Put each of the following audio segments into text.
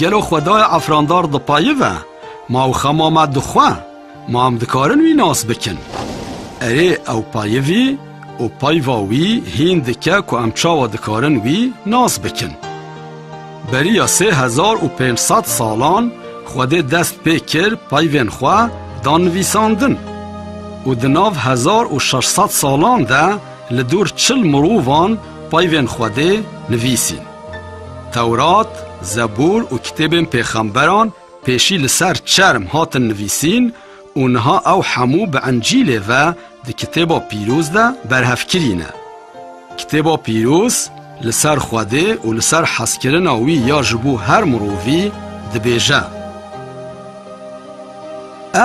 Gelo xwedaya efrandar di payî ve ma û xema me dixwe ma em dikarin wî nas bikin. Erê ew payivî û payva wî hîn dike ku em çawa dikarin wî nas bikin. Beriya sê hezar û pênc sed salan Xwedê dest pê kir peyvên xwe da nivîsandin û di nav hezar û şeş sed salan de li dûr çil mirovan peyvên Xwedê nivîsîn. Tewrat, Zebûr û kitêbên pêxemberan Pêşî li ser çerm hatin nivîsîn û niha ew hemû bi Encîlê ve di Kitêba Pîroz de berhev kirîne. Kitêba Pîroz li ser Xwedê û li ser hezkirina wî ya ji bo her mirovî dibêje.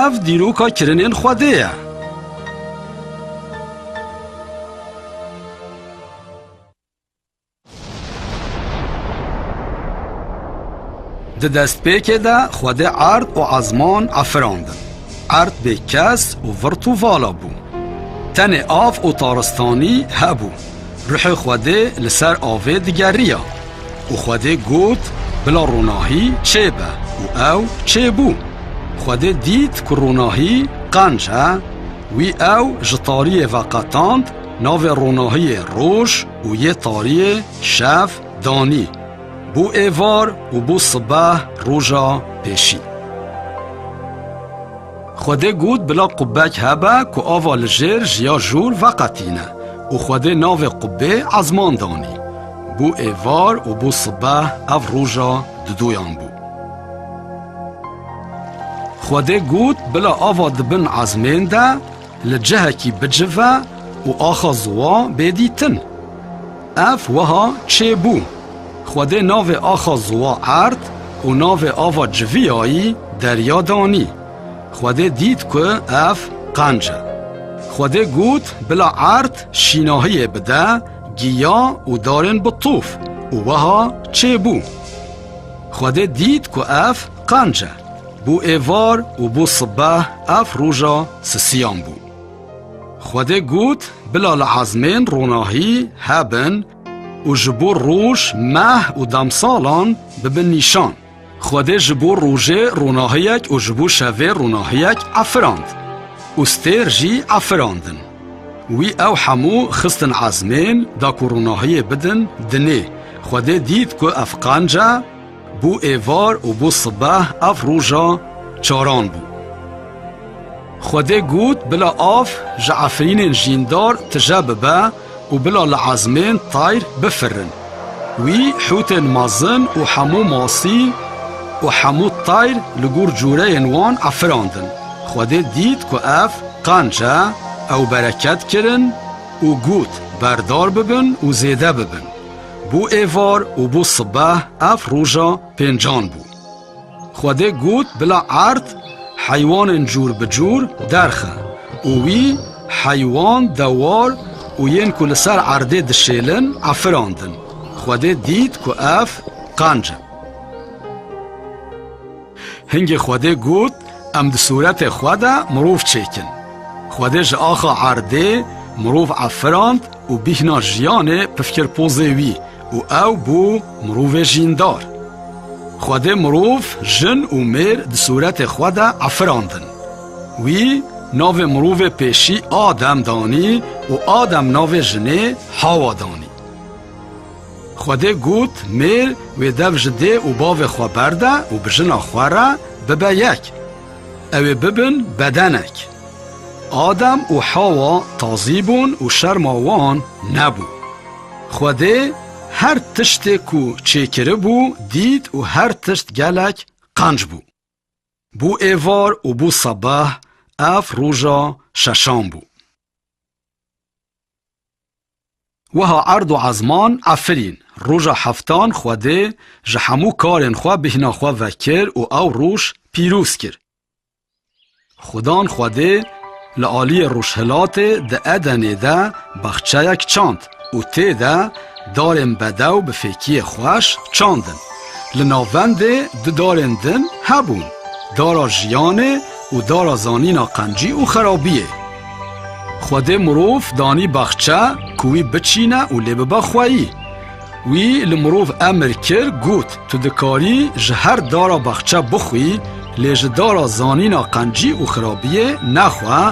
Ev dîroka kirinên Xwedê ye. Di destpêkê de Xwedê erd û ezman efirandin. Erd bê kes û virt û vala bû. Tenê av û taristanî hebû. Ruhê Xwedê li ser avê digeriya û Xwedê got bila ronahî çêbe û ew çêbû. Xwedê dît ku ronahî qenc e. Wî ew ji tariyê veqetand navê ronahiyê roj û yê tariyê şev danî bû êvar û bû sibeh roja pêşî. Xwedê got bila qubek hebe ku ava li jêr ji ya jûr veqetîne û Xwedê navê qubê ezman danî. Bû êvar û bû sibeh ev roja didoyan bû. Xwedê got bila ava di bin ezmên de Li cihekî bicive û axa ziwa bê dîtin. Ev wiha çêbû, Xwedê navê axa ziwa erd û navê ava civiyayî derya danî. Xwedê dît ku ev qenc e. Xwedê got bila erd şînahiyê bide giya û darên bi tof û wiha çêbû. Xwedê dît ku ev qenc e. Bû êvar û bû sibeh ev roja sisiyan bû. Xwedê got bila li ezmên ronahî hebin û ji bo roj, meh û demsalan bibin nîşan. Xwedê ji bo rojê ronahiyek û ji bo şevê ronahiyek efirand û stêr jî efirandin. Wî ew hemû xistin ezmên da ku ronahiyê bidin dinê. Xwedê dît ku ev qenc e. Bû êvar û bû sibeh ev roja çaran bû. Xwedê got bila av ji efrînên jîndar tije bibe û bila li ezmên tayr bifirin. Wî hûtên mezin û hemû masî û hemû tayr li gor cureyên wan efirandin. Xwedê dît ku ev qenc e, ew bereket kirin û got, Berdar bibin û zêde bibin. Bû êvar û bû sibeh ev roja pêncan bû. Xwedê got bila erd heywanên cûr bi cûr derxe û wî heywan, dewar û yên ku li ser erdê dişêlin efirandin. Xwedê dît ku ev qenc e. Hingê Xwedê got, Em di sûretê xwe de mirov çêkin. Xwedê ji axa erdê mirov efirand û bîhna jiyanê pif kir pozê wî û ew bû mirovê jîndar. Xwedê mirov, jin û mêr di sûretê xwe de efirandin. Wî navê mirovê pêşî Adem danî û Adem navê jinê Hawa danî. Xwedê got, Mêr wê dev ji dê û bavê xwe berde û bi jina xwe re bibe yek. Ew ê bibin bedenek. Adem û Hewa tazî bûn û şerma wan nebû. Xwedê her tiştê ku çêkiribû dît û her tişt gelek qenc bû. Bû êvar û bû sebeh, ev roja şeşan bû. Wiha erd û ezman Efrîn roja heftan Xwedê ji hemû karên xwe bîhna xwe vekir û ew roj pîroz kir. Xudan Xwedê li aliyê rojhilatê di Edenê de baxçeyek çand û tê de darên bedew bi fêkiyê xweş çandin. Li navendê du darên din hebûn, dara jiyanê û dara zanîna qencî û xerabiyê. Xwedê mirov danî baxçe ku wî biçîne û lê bibe xweyî. Wî li mirov emir kir got, Tu dikarî ji her dara baxçe bixwî, lê ji dara zanîna qencî û xirabiyê nexwe,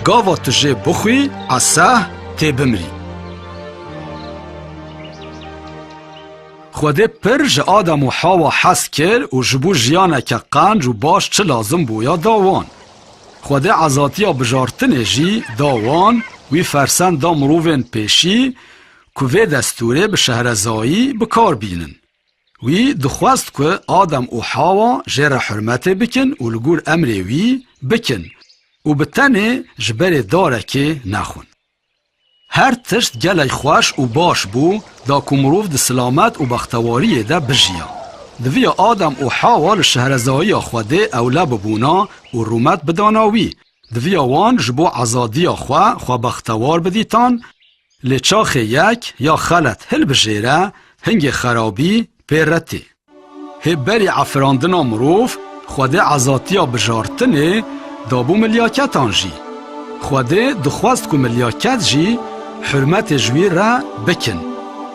gava tu jê bixwî, eseh, tê bimirî. Xwedê pir ji Adam û Hawa hez kir û ji bo jiyaneke qenc û baş çi lazim bû ya da wan. Xwedê azatiya bijartinê jî da wan, wî fersend da mirovên pêşî ku vê destûrê bi şehrezayî bi kar bînin. Wî dixwest ku Adem û Hawa jê re hurmetê bikin û li gor emrê wî bikin û bi tenê ji berê darekê nexwin. Her tişt gelek xweş û baş bû da ku mirov di silamet û bextewariyê de bijiya. Diviya Adem û Hewa li şehrezayiya Xwedê ewle bibûna û rûmet bidana wî. Diviya wan ji bo azadiya xwe xwe bextewar bidîtan. Lê çaxê yek ya xelet hilbijêre, hingê xerabî pê re tê. Hê berî afirandina mirov Xwedê azatiya bijartinê dabû milyaketan jî. Xwedê dixwest ku milyaket jî hurmetê ji wî re bikin.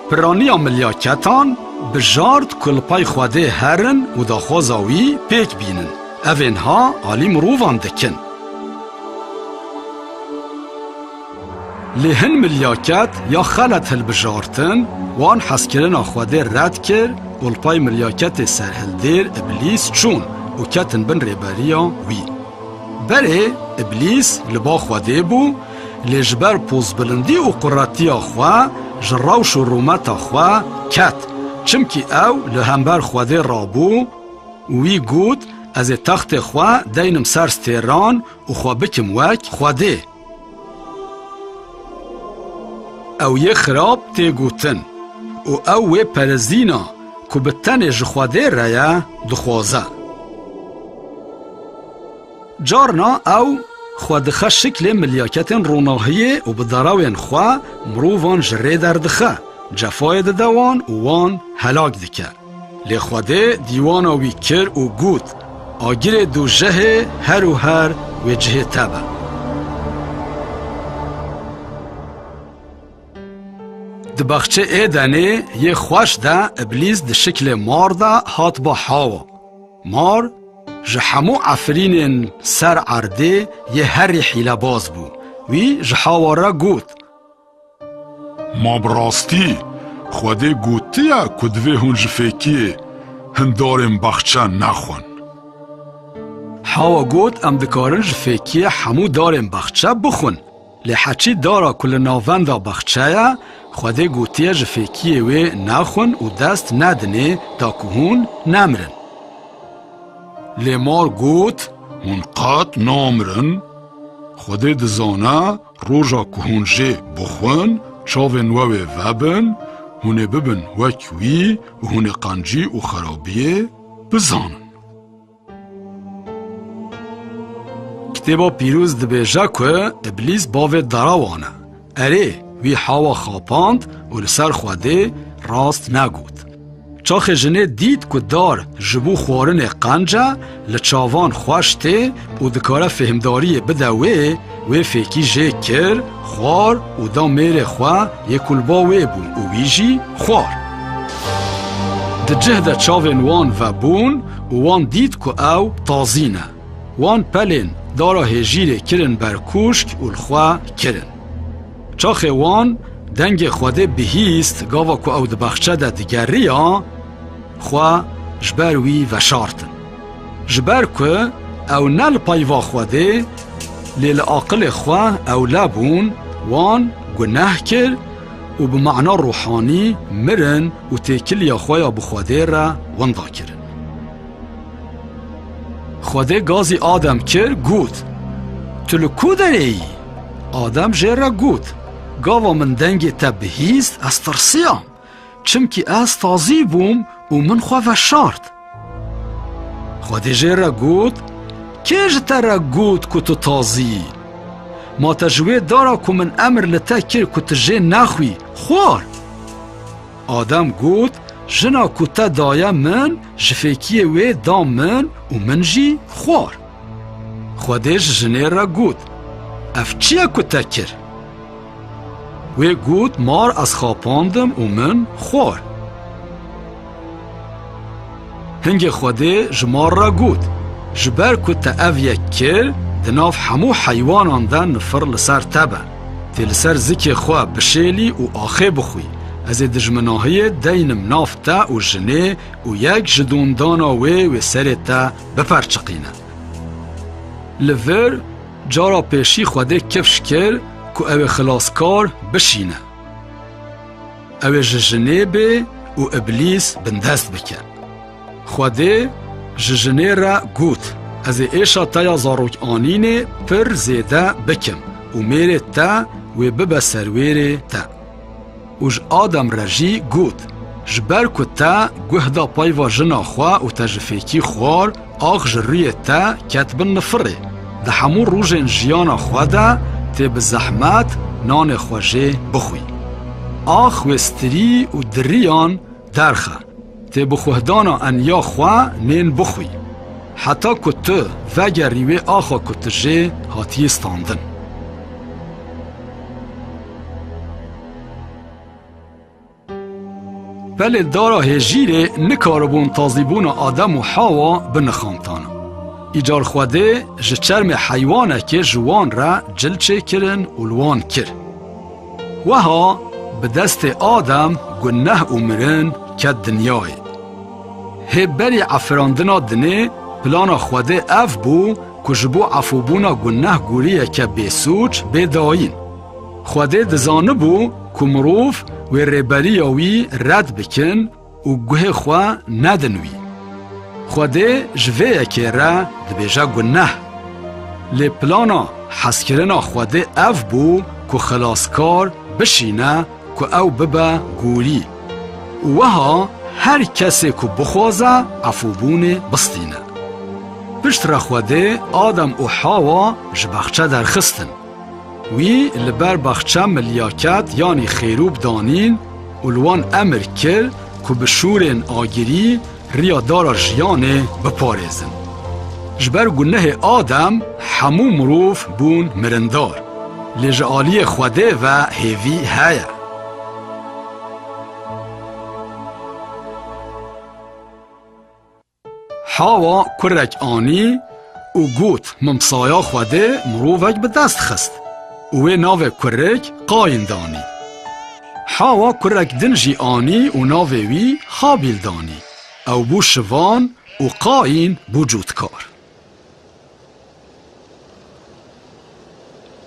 Piraniya milyaketan bijart ku li pay Xwedê herin û daxwaza wî pêk bînin. Ev ê niha alî mirovan dikin. Lê hin milyaket ya xelet hilbijartin, wan hezkirina Xwedê red kir û li pay milyaketê serhildêr Îblîs çûn û ketin bin rêberiya wî. Berê Îblîs li ba Xwedê bû, lê ji ber pozbilindî û quretiya xwe ji rewş û rûmeta xwe ket, çimkî ew li hember Xwedê rabû û wî got, Ez ê textê xwe deynim ser stêran û xwe bikim wek Xwedê. Ew yê xirab tê gotin û ew wê perezîna ku bi tenê ji Xwedê re ye dixwaze. Carna ew xwe dixe şiklê milyaketên ronahiyê û bi derawên xwe mirovan ji rê derdixe, cefayê dide wan û wan helak dike. Lê Xwedê dîwana wî kir û got, Agirê du jehê her û her wê cihê te be. Di baxçê Êdenê yê xweş de Îblîs di şiklê mar de hat ba hawa. Mar ji hemû efrînên ser erdê yê herî hîlebaz bû. Wî ji hawa re got, Ma bi rastî Xwedê gotiya ku divê hûn ji fêkiyê hin darên baxçe nexwin. Hawa got em dikarin ji fêkiyê hemû darên baxçe bixwin. Lê Heçî dara ku li navenda baxçe ye, Xwedê gotiye ji fêkiyê wê nexwin û dest nedinê ta ku hûn nemirin. Lê mar got, Hûn qet namirin. Xwedê dizane. Roja ku hûn jê bixwin, çavên we wê vebin, hûn ê bibin wek wî û hûn ê qencî û xerabiyê bizanin. Kitêba Pîroz dibêje ku Îblîs bavê derawan e. Erê, wî hewa xapand û li ser Xwedê rast negot. Çaxê jinê dît ku dar ji bo xwarinê qenc e, li çavan xweş tê û dikare fêhmdariyê bide wê, wê fêkî jê kir, xwar û da mêrê xwe yê ku li ba wê bû û wî jî xwar. Di cih de çavên wan vebûn û wan dît ku ew tazî ne. Wan pelên dara hêjîrê kirin ber kûşk û li xwe kirin. Çaxê wan dengê Xwedê bihîst gava ku ew di baxçe de digeriya, xwe ji ber wî veşartin. Ji ber ku ew ne li peyva Xwedê lê li aqilê xwe ewle bûn, wan guneh kir û bi mana ruhanî mirin û têkiliya xwe ya bi Xwedê re winda kirin. Xwedê gazî Adem kir, got, Tu li ku derê yî? Adem jê re got, Gava min dengê te bihîst ez tirsiyam, çimkî ez tazî bûm û min xwe veşart. Xwedî jê re got, Kê ji te re got ku tu tazî yî? Ma te ji wê dara ku min emir li te kir ku tu jê nexwî, xwar? Adem got, Jina ku te daye min ji fêkiyê wê da min û min jî xwar. Xwedê ji jinê re got, Ev çi ye ku te kir? Wê got, Mar ez xapandim û min xwar. Hingê Xwedê ji mar re got, Ji ber ku te ev yek kir, di nav hemû heywanan de nifir li ser te be. Tê li ser zikê xwe bişêlî û axê bixwî. Ez ê dijminahiyê deynim nav te û jinê û yek ji dondana wê wê serê te biperçiqîne. Li vir cara pêşî Xwedê kifş kir ku ew ê xilaskar bişîne. Ew ê ji jinê bê û Îblîs bindest bike. Xwedê ji jinê re got, Ez ê êşa te ya zarokanînê pir zêde bikim û mêrê te wê bibe serwêrê te. Û ji Adam re jî got, Ji ber ku te guh da peyva jina xwe û te ji fêkî xwar, ax ji rûyê te ket bin nifirê. Di hemû rojên jiyana xwe de tê bi zehmet nanê xwe jê bixwî. Ax wê stirî û diriyan derxe. Tê bixwehdana enya xwe nên bixwî. Heta ku tu vegerî wê axa ku tu jê hatiyê standin. Pelê dara hêjîrê nikaribûn tazîbûna Adem û Hawa binixantan. Îcar Xwedê ji çermê heywanekê ji wan re cil çêkirin û li wan kir. Weha bi destê Adem guneh û mirin ket dinyayê. Hê berî efirandina dinê plana Xwedê ev bû ku ji bo efûbûna guneh guriyeke bêsûc bê dayîn. Xwedê dizanibû ku mirov wê rêberiya wî red bikin, û guhê xwe nedin wî. Xwedê ji vê yekê re dibêje guneh. Lê plana hezkirina Xwedê ev bû ku xilaskar bişîne ku ew bibe gorî û wiha her kesê ku bixwaze efûbûnê bistîne. Piştre Xwedê Adam û Hawa ji baxçe derxistin. Wî li ber baxça milyaket yanî xêrûb danîn û li wan emir kir ku bi şûrên agirî riya dara jiyanê biparêzin. Ji ber gunehê Adem hemû mirov bûn mirindar, lê ji aliyê Xwedê ve hêvî heye. Hawa kurek anî û got, Min saya Xwedê mirovek bi dest xist û wê navê kurek Qayîn danî. Hawa kurek din jî anî û navê wî Habîl danî. Ew bû şivan û Qayîn bû cotkar.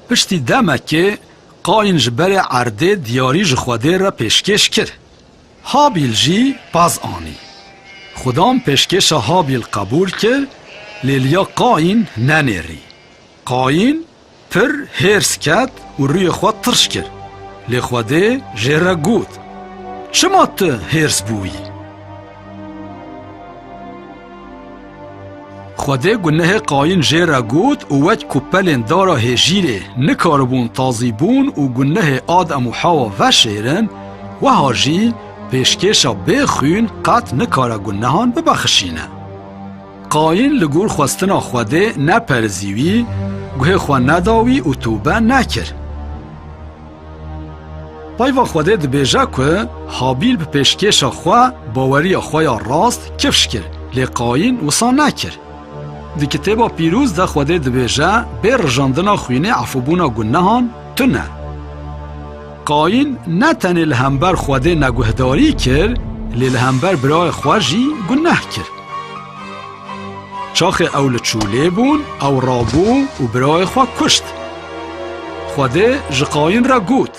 Piştî demekê Qayîn ji berê erdê diyarî ji Xwedê re pêşkêş kir. Habîl jî pez anî. Xwedam pêşkêşa Habîl qebûl kir, lê liya Qayîn nenêrî. Qayîn pir hêrs ket û rûyê xwe tirş kir, lê Xwedê jê re got, Çima tu hêrs bûyî? Xwedê gunehê Qayîn jê re got û wek ku pelên dara hêjîrê nikaribûn tazîbûn û gunehê Adem û Hewa veşêrin, weha jî pêşkêşa bê xwîn qet nikare gunehan bibexişîne. Qayîn li gor xwestina Xwedê neperizî wî, guhê xwe neda wî û tûbe nekir. Peyva Xwedê dibêje ku Habîl bi pêşkêşa xwe baweriya xwe ya rast kifş kir, lê Qayîn wisa nekir. Di Kitêba Pîroz de Xwedê dibêje bê rijandina xwînê efûbûna gunehan tune e. Qayîn ne tenê li hember Xwedê neguhdarî kir, lê li hember birayê xwe jî guneh kir. Çaxê ew li çûlê bûn, ew rabû û birayê xwe kuşt. Xwedê ji Qayîn re got,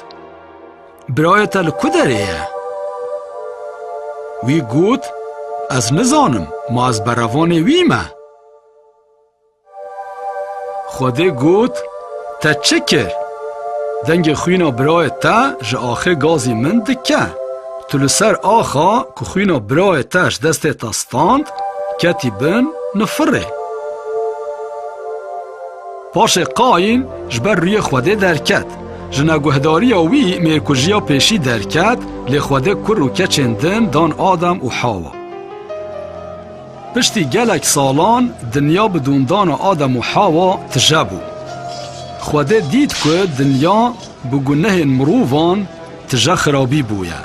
Birayê te li ku derê ye? Wî got, Ez nizanim, ma ez berevanê wî me. Xwedê got, Te çi kir? Dengê xwîna birayê te ji axê gazî min dike. Tu li ser axa ku xwîna birayê te ji destê te stand, ketî bin nifirê. Paşê Qayîn ji ber rûyê Xwedê derket. Ji neguhdariya wî mêrkujiya pêşî derket, lê Xwedê kur û keçên din dan Adam û Hawa. Piştî gelek salan dinya bi dûndana Adem û Hewa tije bû. Xwedê dît ku dinya bi gunehên mirovan tije xirabî bûye.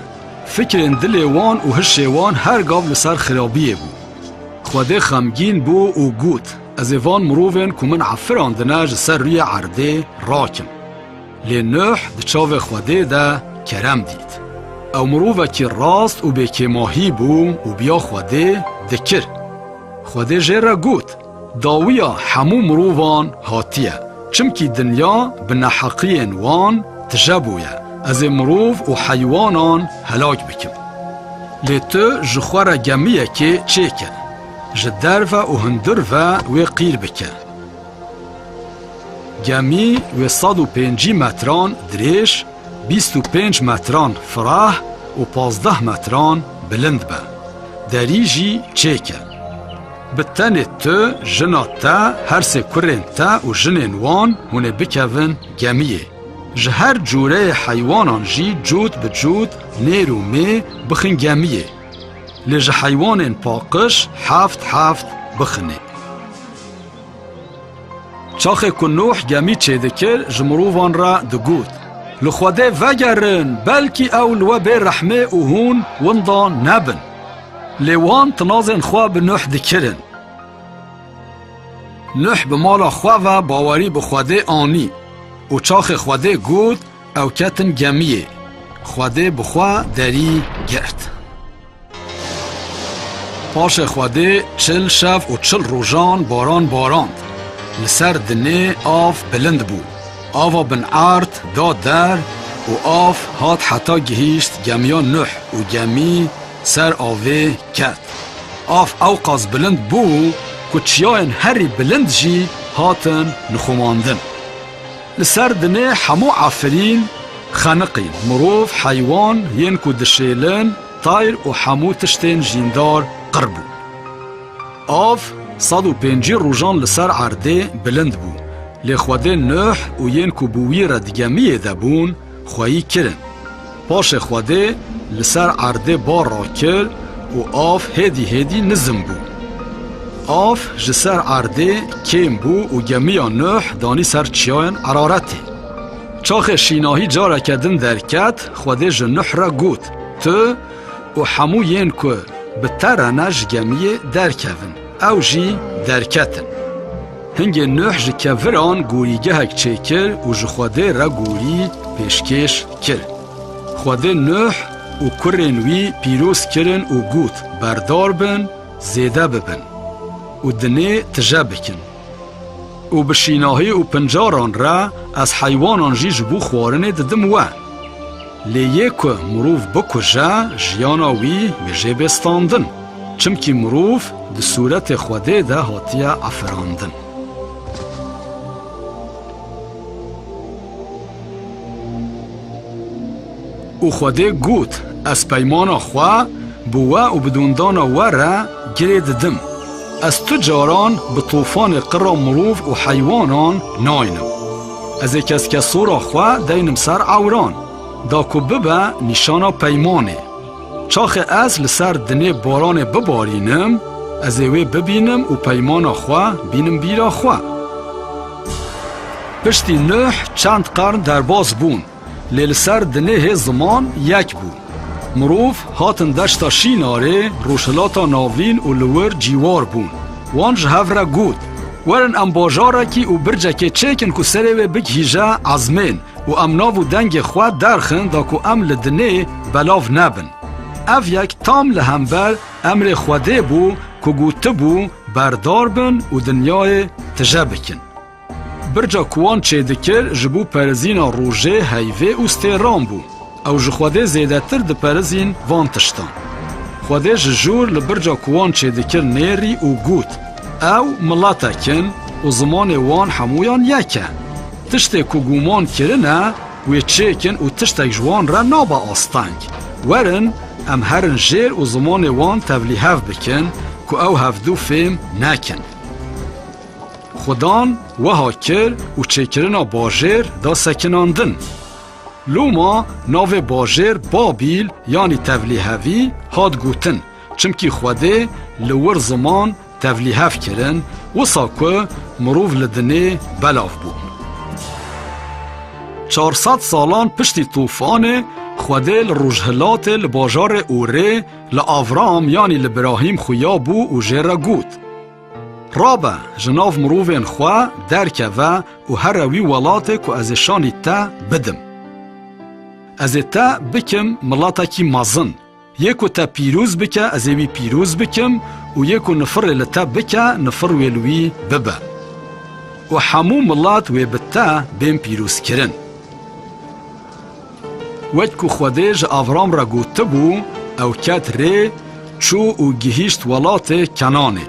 Fikrên dilê wan û hişê wan her gav li ser xirabiyê bû. Xwedê xemgîn bû û got, Ez ê van mirovên ku min efirandine ji ser rûyê erdê rakim. Lê Nuh di çavê Xwedê de kerem dît. Ew mirovekî rast û bêkêmahî bû û biya Xwedê dikir. Xwedê jê re got, Dawiya hemû mirovan hatiye, çimkî dinya bi neheqiyên wan tije bûye, ez ê mirov û heywanan helak bikim. Lê tu ji xwe re gemiyekê çêkir, ji derve û hundir ve wê qîr bikir. Gemî wê sed û pêncî metran dirêj, bîst û pênc metran fireh û pazdeh metran bilind be. Derî jî çêk e. Bi tenê tu, jina te, her sê kurên te û jinên wan hûn ê bikevin gemîyê. Ji her cureyê heywanan jî cût bi cût nêr û mê bixin gemîyê. Lê ji heywanên paqij heft heft bixinê. Çaxê ku Nuh gemî çêdikir ji mirovan re digot, Li Xwedê vegerin belkî ew li we bê rehmê û hûn winda nebin. Lê wan tinazên xwe bi Nuh dikirin. Nuh bi mala xwe ve bawerî bi Xwedê anî û çaxê Xwedê got ew ketin gemiyê. Xwedê bi xwe derî girt. Paşê Xwedê çil şev û çil rojan baran barand. Li ser dinê av bilind bû. Ava bin erd da der û av hat heta gihîşt gemiya Nuh û gemî ser avê ket. Av ewqas bilind bû ku çiyayên herî bilind jî hatin nixumandin. Li ser dinê hemû efirîn, xeniqî, mirov, heywan, yên ku dişêlin, tayr û hemû tiştên jîndar qir bû. Av sed û pêncî rojan li ser erdê bilind bû, lê xwedên Nuh û yên ku bi wî re di gemiyê de bûn, xweyî kirin. Paşê Xwedê li ser erdê bar rakir û av hêdî hêdî nizm bû. Av ji ser erdê kêm bû û gemiya Nuh danî ser çiyayên Eraretê. Çaxê Şînahî careke din derket, Xwedê ji Nuh re got, Tu û hemû yên ku bi te re ne ji gemiyê derkevin. Ew jî derketin. Hingê Nuh ji keviran gorîgehek çêkir û ji Xwedê re gorî pêşkêş kir. Xwedê Nuh û kurên wî pîroz kirin û got, Berdar bin, zêde bibin û dinê tije bikin. Û bi şînahî û pincaran re ez heywanan jî ji bo xwarinê didim we. Lê yê ku mirov bikuje jiyana wî bêje bê standin. Çimkî mirov di sûretê Xwedê de hatiye aferandin. Û Xwedê got, Ez peymana xwe bi we û bi dondana we re girê didim. Ez tu caran bi tofanê qira mirov û heywanan naynim. Ez ê keske sora xwe deynim ser ewran, da ku bibe nîşana peymanê. Çaxê ez li ser dinê baranê bibarînim, ez ê wê bibînim û peymana xwe bînim bîra xwe. Piştî Nuh çend qarn derbas bûn. Lê li ser dinêhê ziman yek bû. Mirov hatin deşta Şînarê, Rojhilata Navîn û li wir cîwar bûn. Wan ji hev re got, Werin em bajarekî û bircekê çêkin ku serê wê bigihîje ezmên û em nav û dengê xwe derxin da ku em li dinê belav nebin. Ev yek tam li hember emrê Xwedê bû ku gotibû berdar bin û dinyayê tije bikin. Birca ku wan çêdikir ji bo perizîna rojê, heyvê û stêran bû. Ew ji Xwedê zêdetir diperizîn van tiştan. Xwedê ji jûr li birca ku wan çêdikir nêrî û got, Ew miletek in û zimanê wan hemûyan yek e. Tiştê ku gûman kirine wê çêkin û tiştek ji wan re nabe asteng. Werin em herin jêr û zimanê wan tevlî hev bikin ku ew hevdu fêm nekin. Xudan weha kir û çêkirina bajêr da sekinandin. Loma navê bajêr Babîl yanî Tevlîhevî hat gotin, çimkî Xwedê li wir ziman tevlîhev kirin, wisa ku mirov li dinê belav bû. Çar sed salan piştî tofanê, Xwedê li rojhilatê li bajarê Urê li Avram yanî li Birahîm xuya bû û jê re got, Rabe ji nav mirovên xwe derkeve û here wî welatê ku ez ê şanî te bidim. Ez ê te bikim miletekî mezin. Yê ku te pîroz bike ez ê wî pîroz bikim û yê ku nifirê li te bike nifir wê li wî bibe. Û hemû milet wê bi te bên pîrozkirin. Wek ku Xwedê ji Avram re gotibû, ew ket rê, çû û gihîşt welatê Kenanê.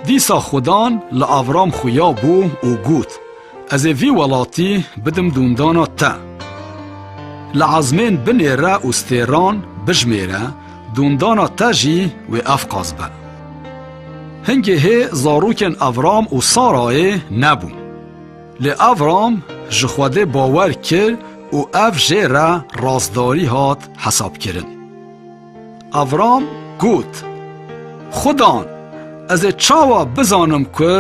Dîsa Xwedan li Avram xuya bû û got, Ez ê vî welatî bidim dûndana te. Li ezmên binêre û stêran bijimêre, dûndana te jî wê efqas be. Hingê hê zarokên Avram û Sarayê nebûn. Lê Avram ji Xwedê bawer kir û ev jê re rastdarî hat hesabkirin. Avram got, Xudan, ez ê çawa bizanim ku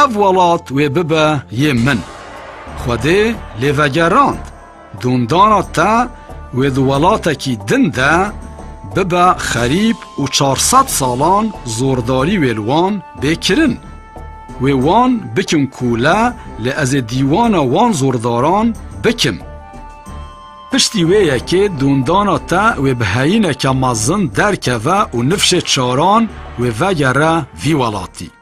ev welat wê bibe yê min? Xwedê lê vegerand. Dundana te wê di welatekî din de bibe xerîb û çar sed salan zordarî wê li wan bê kirin. Wê wan bikin kûle lê ez ê dîwana wan zordaran bikim. Piştî wê yekê dundana te wê bi heyîneke mezin derkeve û nifşê çaran wê vegere vî welatî.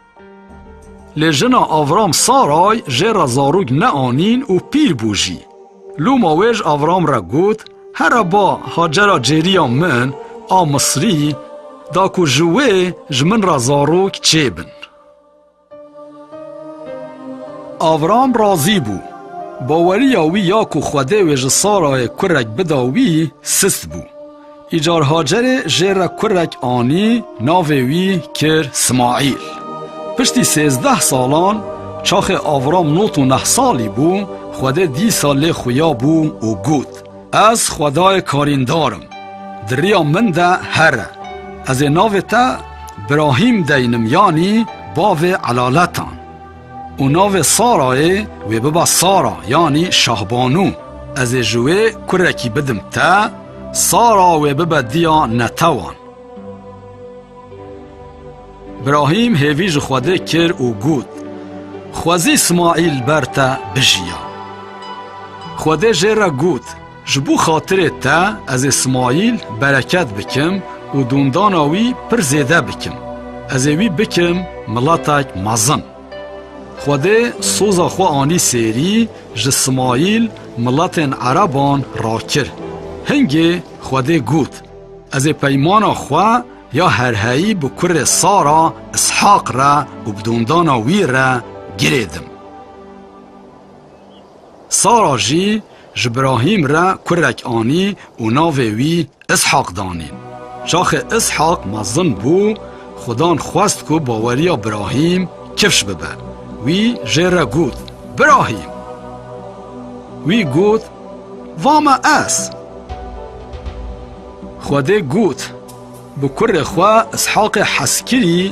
Lê jina Avram Saray jê re zarok neanîn û pîr bû jî. Loma wê ji Avram re got, Here ba Hacera cêriya min a Misrî da ku ji wê ji min re zarok çêbin. Avram razî bû. Baweriya wî ya ku Xwedê wê ji Sarayê kurek bida wî sist bû. Îcar Hacerê jê re kurek anî, navê wî kir Simaîl. Piştî sêzdeh salan, çaxê Avram not û neh salî bû, Xwedê dîsa lê xuya bû û got, Ez Xwedayê karîndar im, di riya min de here. Ez ê navê te Birahîm deynim yanî bavê elaletan. Û navê Sarayê wê biba Sara yanî Şahbanû. Ez ê ji wê kurekî bidim te, Sara wê bibe diya netewan. Brahîm hêvî ji Xwedê kir û got, Xwezî Smaîl ber te bijiya. Xwedê jê re got, Ji bo xatirê te ez ê Smaîl bereket bikim û dondana wî pir zêde bikim. Ez ê wî bikim miletek mezin. Xwedê soza xwe anî sêrî, ji Smaîl miletên ereban rakir. Hingê Xwedê got, Ez ê peymana xwe ya herheyî bi kurê Sara, Îshaq re û bi dondana wî re girêdim. Sara jî ji Brahîm re kurek anî û navê wî Îshaq danîn. Çaxê Îshaq mezin bû, Xudan xwest ku baweriya Brahîm kifş bibe. Wî jê re got, Brahîm! Wî got, Va me ez! Xwedê got. Bi kurê xwe Ishaqê Heskirî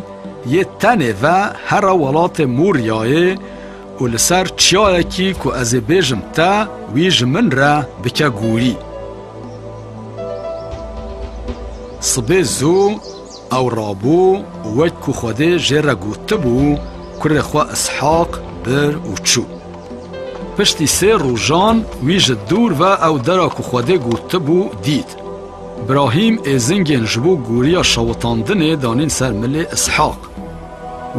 yê tenê ve here welatê Mûryayê û li ser çiyayekî ku ez ê bêjim te, wî ji min re bike gorî. Sibê zû ew rabû û wek ku Xwedê jê re gotibû, kurê xwe Ishaq bir û çû. Piştî sê rojan wî ji dûr ve ew dera ku Xwedê gotibû dît. Brahîm êzingên ji bo goriya şewitandinê danîn ser milê Îshaq.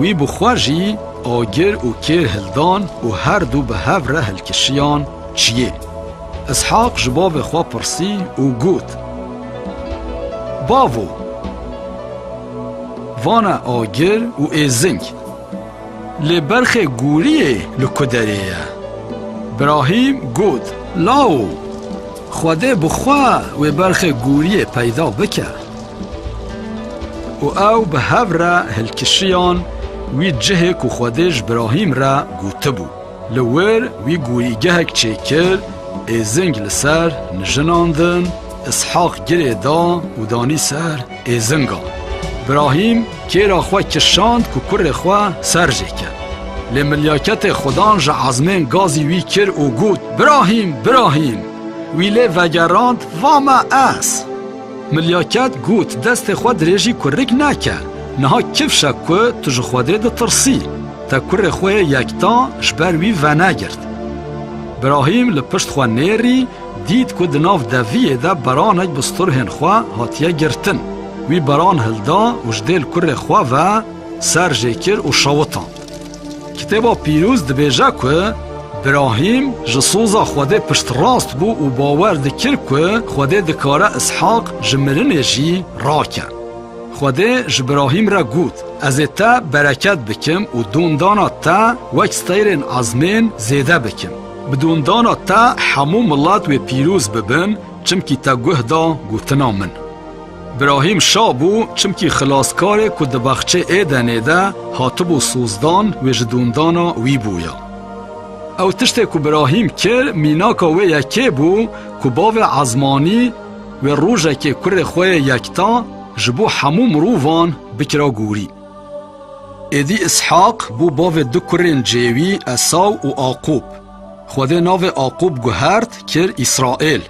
Wî bi xwe jî agir û kêr hildan û her du bi hev re hilkişiyan çiyê. Îshaq ji bavê xwe pirsî û got, Bavo! Vane agir û êzing. Lê berxê goriyê li ku derê ye? Brahîm got, Lao! Xwedê bi xwe wê berxê gûriyê peyda bike û ew bi hev re hilkişiyan wî cihê ku Xwedê ji Brahîm re gotibû. Li wir wî gûrîgehek çêkir, êzing li ser nijinan din, Îshaq girê da û danî ser êzingan. Brahîm. Kêra xwe kişand ku kurê xwe ser jê ket. Lê milyaketê Xudan ji ezmên gazî wî kir û got, Birahîm, Birahîm! Wî lê vegerand, Va me ez! Milyaket got, Destê xwe dirêjî kurik neke. Niha kifş e ku tu ji Xwedê ditirsî. Te kurê xwe yê yektan ji ber wî venegirt. Birahîm li pişt xwe nêrî, Dît ku di nav deviyê de beranek bi sturhên xwe hatiye girtin. Wî beran hilda û ji dêl kurê xwe ve ser jê kir û şewitand. Kitêba Pîrûz dibêje ku Brahîm ji soza Xwedê piştrast bû û bawer dikir ku Xwedê dikare Îshaq ji mirinê jî rake. Xwedê ji Brahîm re got, Ez ê te bereket bikim û dondana te wek steyrên ezmên zêde bikim. Bi dondana te hemû milet wê pîroz bibin çimkî te guh da gotina min. Brahîm şa bû çimkî xilaskarê ku di baxçê Êdenê de hatibû sozdan wê ji dondana wî bûya. Ew tiştê ku Brahîm kir mînaka wê yekê bû ku bavê Ezmanî wê rojekê kurê xwe yê yekta ji bo hemû mirovan bikira gorî. Êdî Îshaq bû bavê du kurên Cêwî, Esaw û Aqûb. Xwedê navê Aqûb guhert, kir Îsraîl.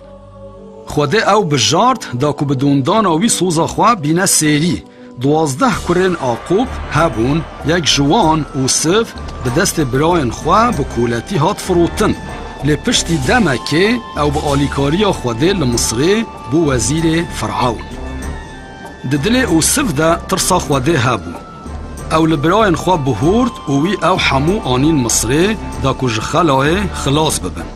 Xwedê ew bijart da ku bi dûndana wî soza xwe bîne sêrî. Duwazdeh kurên Aqûb hebûn, yek ji wan, Ûsiv, bi destê birayên xwe bi koletî hat firotin. Lê piştî demekê ew bi alîkariya Xwedê li Misrê bû wezîrê Firewn. Di dilê Usif de tirsa Xwedê hebû. Ew li birayên xwe bihûrd û wî ew hemû anîn Misirê da ku ji xelayê xilas bibin.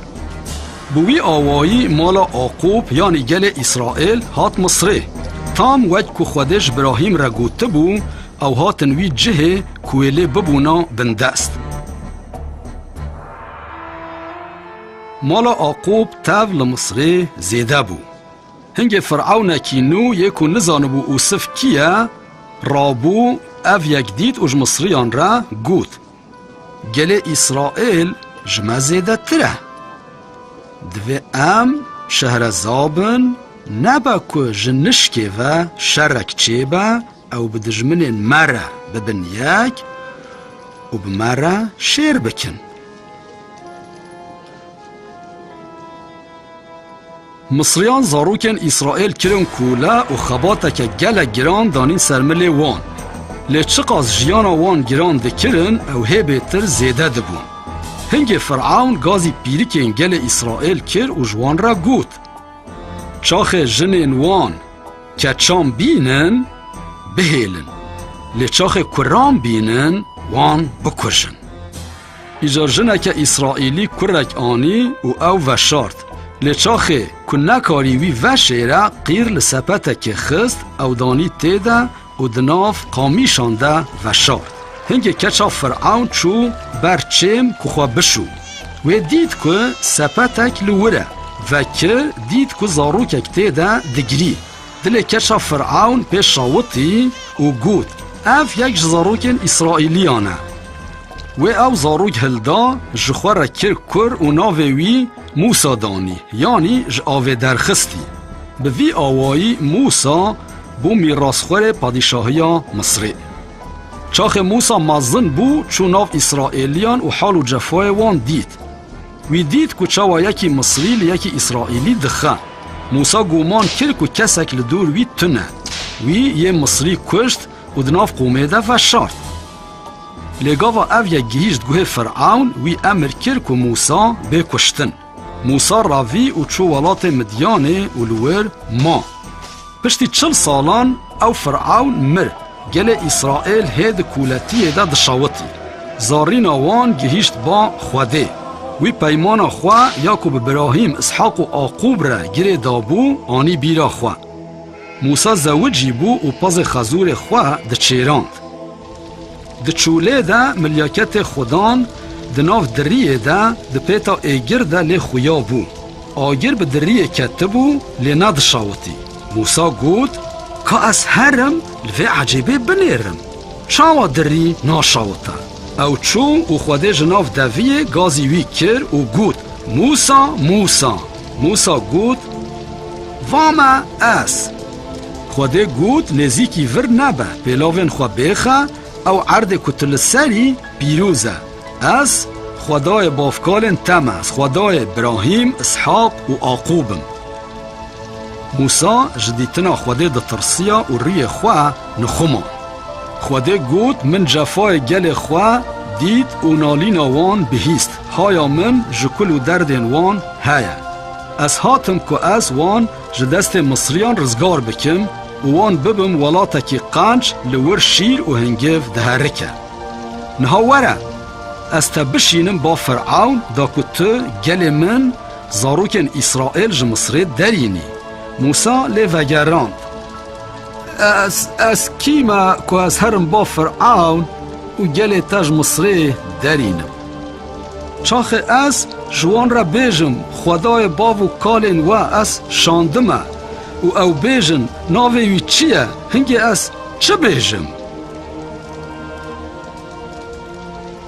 Bi wî awayî mala Aqûb yanî gelê Îsraîl hat Misirê. Tam wek ku Xwedê ji Brahîm re gotibû, ew hatin wî cihê ku wê lê bibûna bindest. Mala Aqûb tev li Misirê zêde bû. Hingê Firewnekî nû yê ku nizanibû Usif kî ye, rabû, ev yek dît û ji Misriyan re got, Gelê Îsraîl ji me zêdetir e. Divê em şehreza bin, nebe ku ji nişkê ve şerek çêbe, ew bi dijminên me re bibin yek û bi me re şêr bikin. Misriyan zarokên Îsraîl kirin kole û xebateke gelek giran danîn ser milê wan. Lê çiqas jiyana wan giran dikirin ew hê bêtir zêde dibûn. Hingê Firewn gazî pîrikên gelê Îsraîl kir û ji wan re got, Çaxê jinên wan keçan bînin, bihêlin, lê çaxê kuran bînin, wan bikujin. Îcar jineke Îsraîlî kurek anî û ew veşart. Lê çaxê ku nekarî wî veşêre qîr li sepetekê xist, ew danî tê de û di nav qamîşan de veşart. Hingê keça Firewn çû ber çêm ku xwe bişû. Wê dît ku sepetek li wir e. Vekir dît ku zarokek tê de digirî. Dilê keça Fir'awn pê şawitî û got, Ev yek ji zarokên Îsraîlîyan e. Wê ew zarok hilda, ji xwe re kir kur û navê wî Mûsa danî, yanî ji avê derxistî. Bi vî awayî Mûsa bû mîrasxwerê padîşahiya Misrê. Çaxê Mûsa mezin bû, çû nav Îsraîlîyan û hal û cefayê wan dît. Wî dît ku çawa yekî Misrî li yekî Îsraîlî dixe. Mûsa guman kir ku kesek li dûr wî tune. Wî yê Misrî kuşt û di nav qomê de veşart. Lê gava ev yek gihîşt guhê Firewn, wî emir kir ku Mûsa bê kuştin. Mûsa revî û çû welatê Midyanê û li wir ma. Piştî çil salan ew Firewn mir, gelê Îsraîl hê di kûletiyê de dişewitî. Zarîna wan gihîşt ba Xwedê. Wî peymana xwe ya ku bi Birahîm, Îshaq û Aqûb re girê dabû anî bîra xwe. Mûsa zewicî bû û pezê xezûrê xwe diçêrand. Di çûlê de milyaketê Xwedan di nav diriyê de di pêta êgir de lê xuya bû. Agir bi diriyê ketibû lê nedişawitî. Mûsa got, Ka ez her im li vê ecêbê binêrim. Çawa dirî naşawite? Ew çû û Xwedê ji nav deviyê gazî wî kir û got, Mûsa, Mûsa! Mûsa got, Va me ez! Xwedê got, Nêzîkî vir nebe, pêlavên xwe bêxe, ew erdê ku tu li serî pîrûz e. Ez Xwedayê bavkalên te me, ez Xwedayê Îbrahîm, Îshaq û Aqûb im. Mûsa ji dîtina Xwedê ditirsiya û rûyê xwe nixuman. Xwedê got, Min cefayê gelê xwe dît û nalîna wan bihîst, haya min ji kul û derdên wan heye. Ez hatim ku ez wan ji destê Misriyan rizgar bikim û wan bibim welatekî qenc li wir şîr û hingiv diherike. Niha were, ez te bişînim ba Firewn da ku tu gelê min zarokên Îsraîl ji Misirê derînî. Mûsa lê vegerand, Ez, ez kî me ku ez herim ba Firewn û gelê te ji Misirê derînim? Çaxê ez ji wan re bêjim, Xwedayê bav û kalên we ez şandime û ew bêjin, Navê wî çi ye? Hingê ez çi bêjim?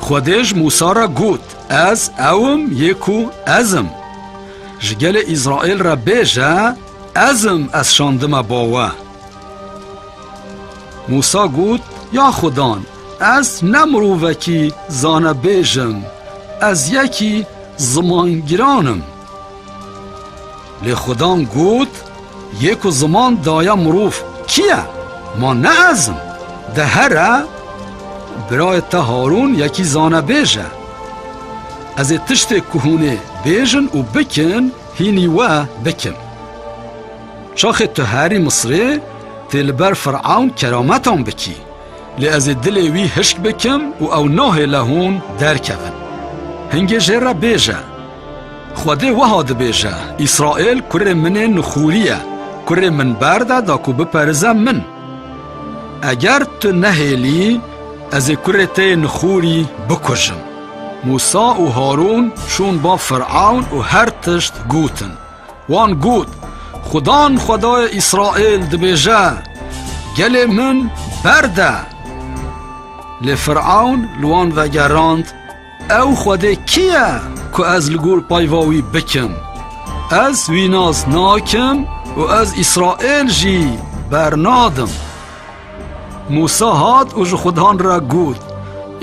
Xwedê ji Mûsa re got, Ez ew im yê ku ez im. Ji gelê Îsraîl re bêje, Ez im ez şandime bo we. Mûsa got, Ya Xwedan, ez ne mirovekî zanebêj im, ez yekî zimangiran im. Lê Xudan got, Yê ku ziman daye mirov kî ye? Ma ne ez im? De here, birayê te Harûn yekî zanebêj e. Ez ê tiştê ku hûn ê bêjin û bikin hînî we bikim. Çaxê tu herî Misirê tê li ber Firewn kerametan bikî. Lê ez ê dilê wî hişk bikim û ew nahêle hûn derkevin. Hingê jê re bêje, Xwedê wiha dibêje, Îsraîl kurê min ê nixûrî ye, kurê min berde da ku biperize min. Eger tu nehêlî, ez ê kurê te yê nixûrî bikujim. Mûsa û Harûn çûn ba Firawn û her tişt gotin. Wan got, Xudan Xwedayê Îsraîl dibêje, Gelê min berde! Lê Firewn li wan vegerand, Ew Xwedê kî ye ku ez li gor peyva wî bikim? Ez wî nas nakim û ez Îsraîl jî bernadim. Mûsa hat û ji xudan re got,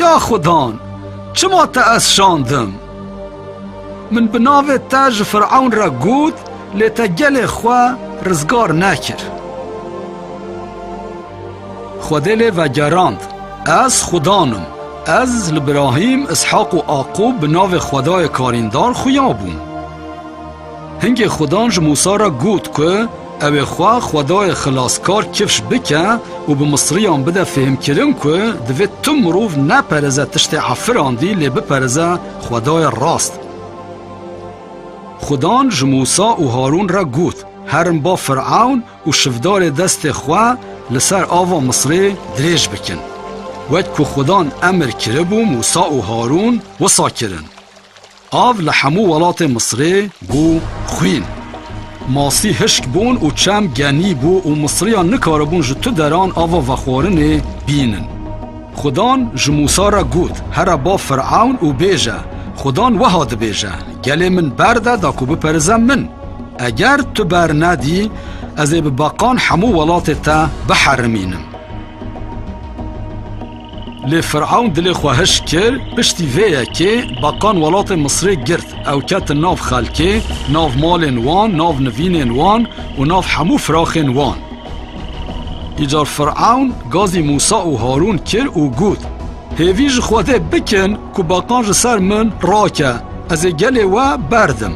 Ya xudan, çima te ez şandim? Min bi navê te ji Firewn re got, lê te gelê xwe rizgar nekir. Xwedê lê vegerand, Ez xudan im, ez li Brahîm, Îshaq û Aqûb bi navê Xwedayê Karîndar xuya bûm. Hingê Xudan ji Mûsa re got ku ew ê xwe xwedayê xilaskar kifş bike û bi Misriyan bide fêhmkirin ku divê tu mirov nepereze tiştê efirandî lê bipereze xwedayê rast. Xudan ji Mûsa û Harûn re got, Herin ba Firewn û şivdarê destê xwe li ser ava Misrê dirêj bikin. Wek ku Xudan emir kiribû Mûsa û Harûn wisa kirin. Av li hemû welatê Misrê bû xwîn. Masî hişk bûn û çem genî bû û Misriyan nikaribûn ji tu deran ava vexwarinê bînin. Xudan ji Mûsa re got, Here ba Firewn û bêje, Xudan weha dibêje, Gelê min berde da ku biperize min. Eger tu bernedî, ez ê bi beqan hemû welatê te biherimînim. Lê Firewn dilê xwe hişk kir, piştî vê yekê beqan welatê Misirê girt, ew ketin nav xelkê, nav malên wan, nav nivînên wan û nav hemû firaxên wan. Îcar Firewn gazî Mûsa û Harûn kir û got, Hêvî ji Xwedê bikin ku beqan ji ser min rake, ez ê gelê we berdim.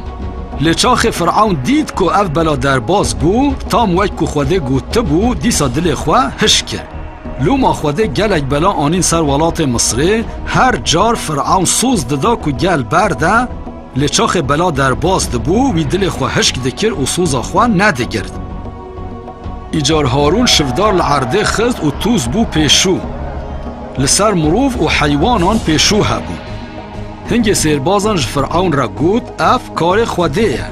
Lê çaxê Firewn dît ku ev bela derbas bû, tam wek ku Xwedê gotibû, dîsa dilê xwe hişk kir. Loma Xwedê gelek bela anîn ser welatê Misirê, her car Firewn soz dida ku gel berde, lê çaxê bela derbas dibû, wî dilê xwe hişk dikir û soza xwe nedigird. Îcar Harûn şivdar li erdê xist û tûz bû pêşû. Li ser mirov û heywanan pêşû hebûn. Hingê sêrbazan ji Firewn re got, Ev karê Xwedê ye.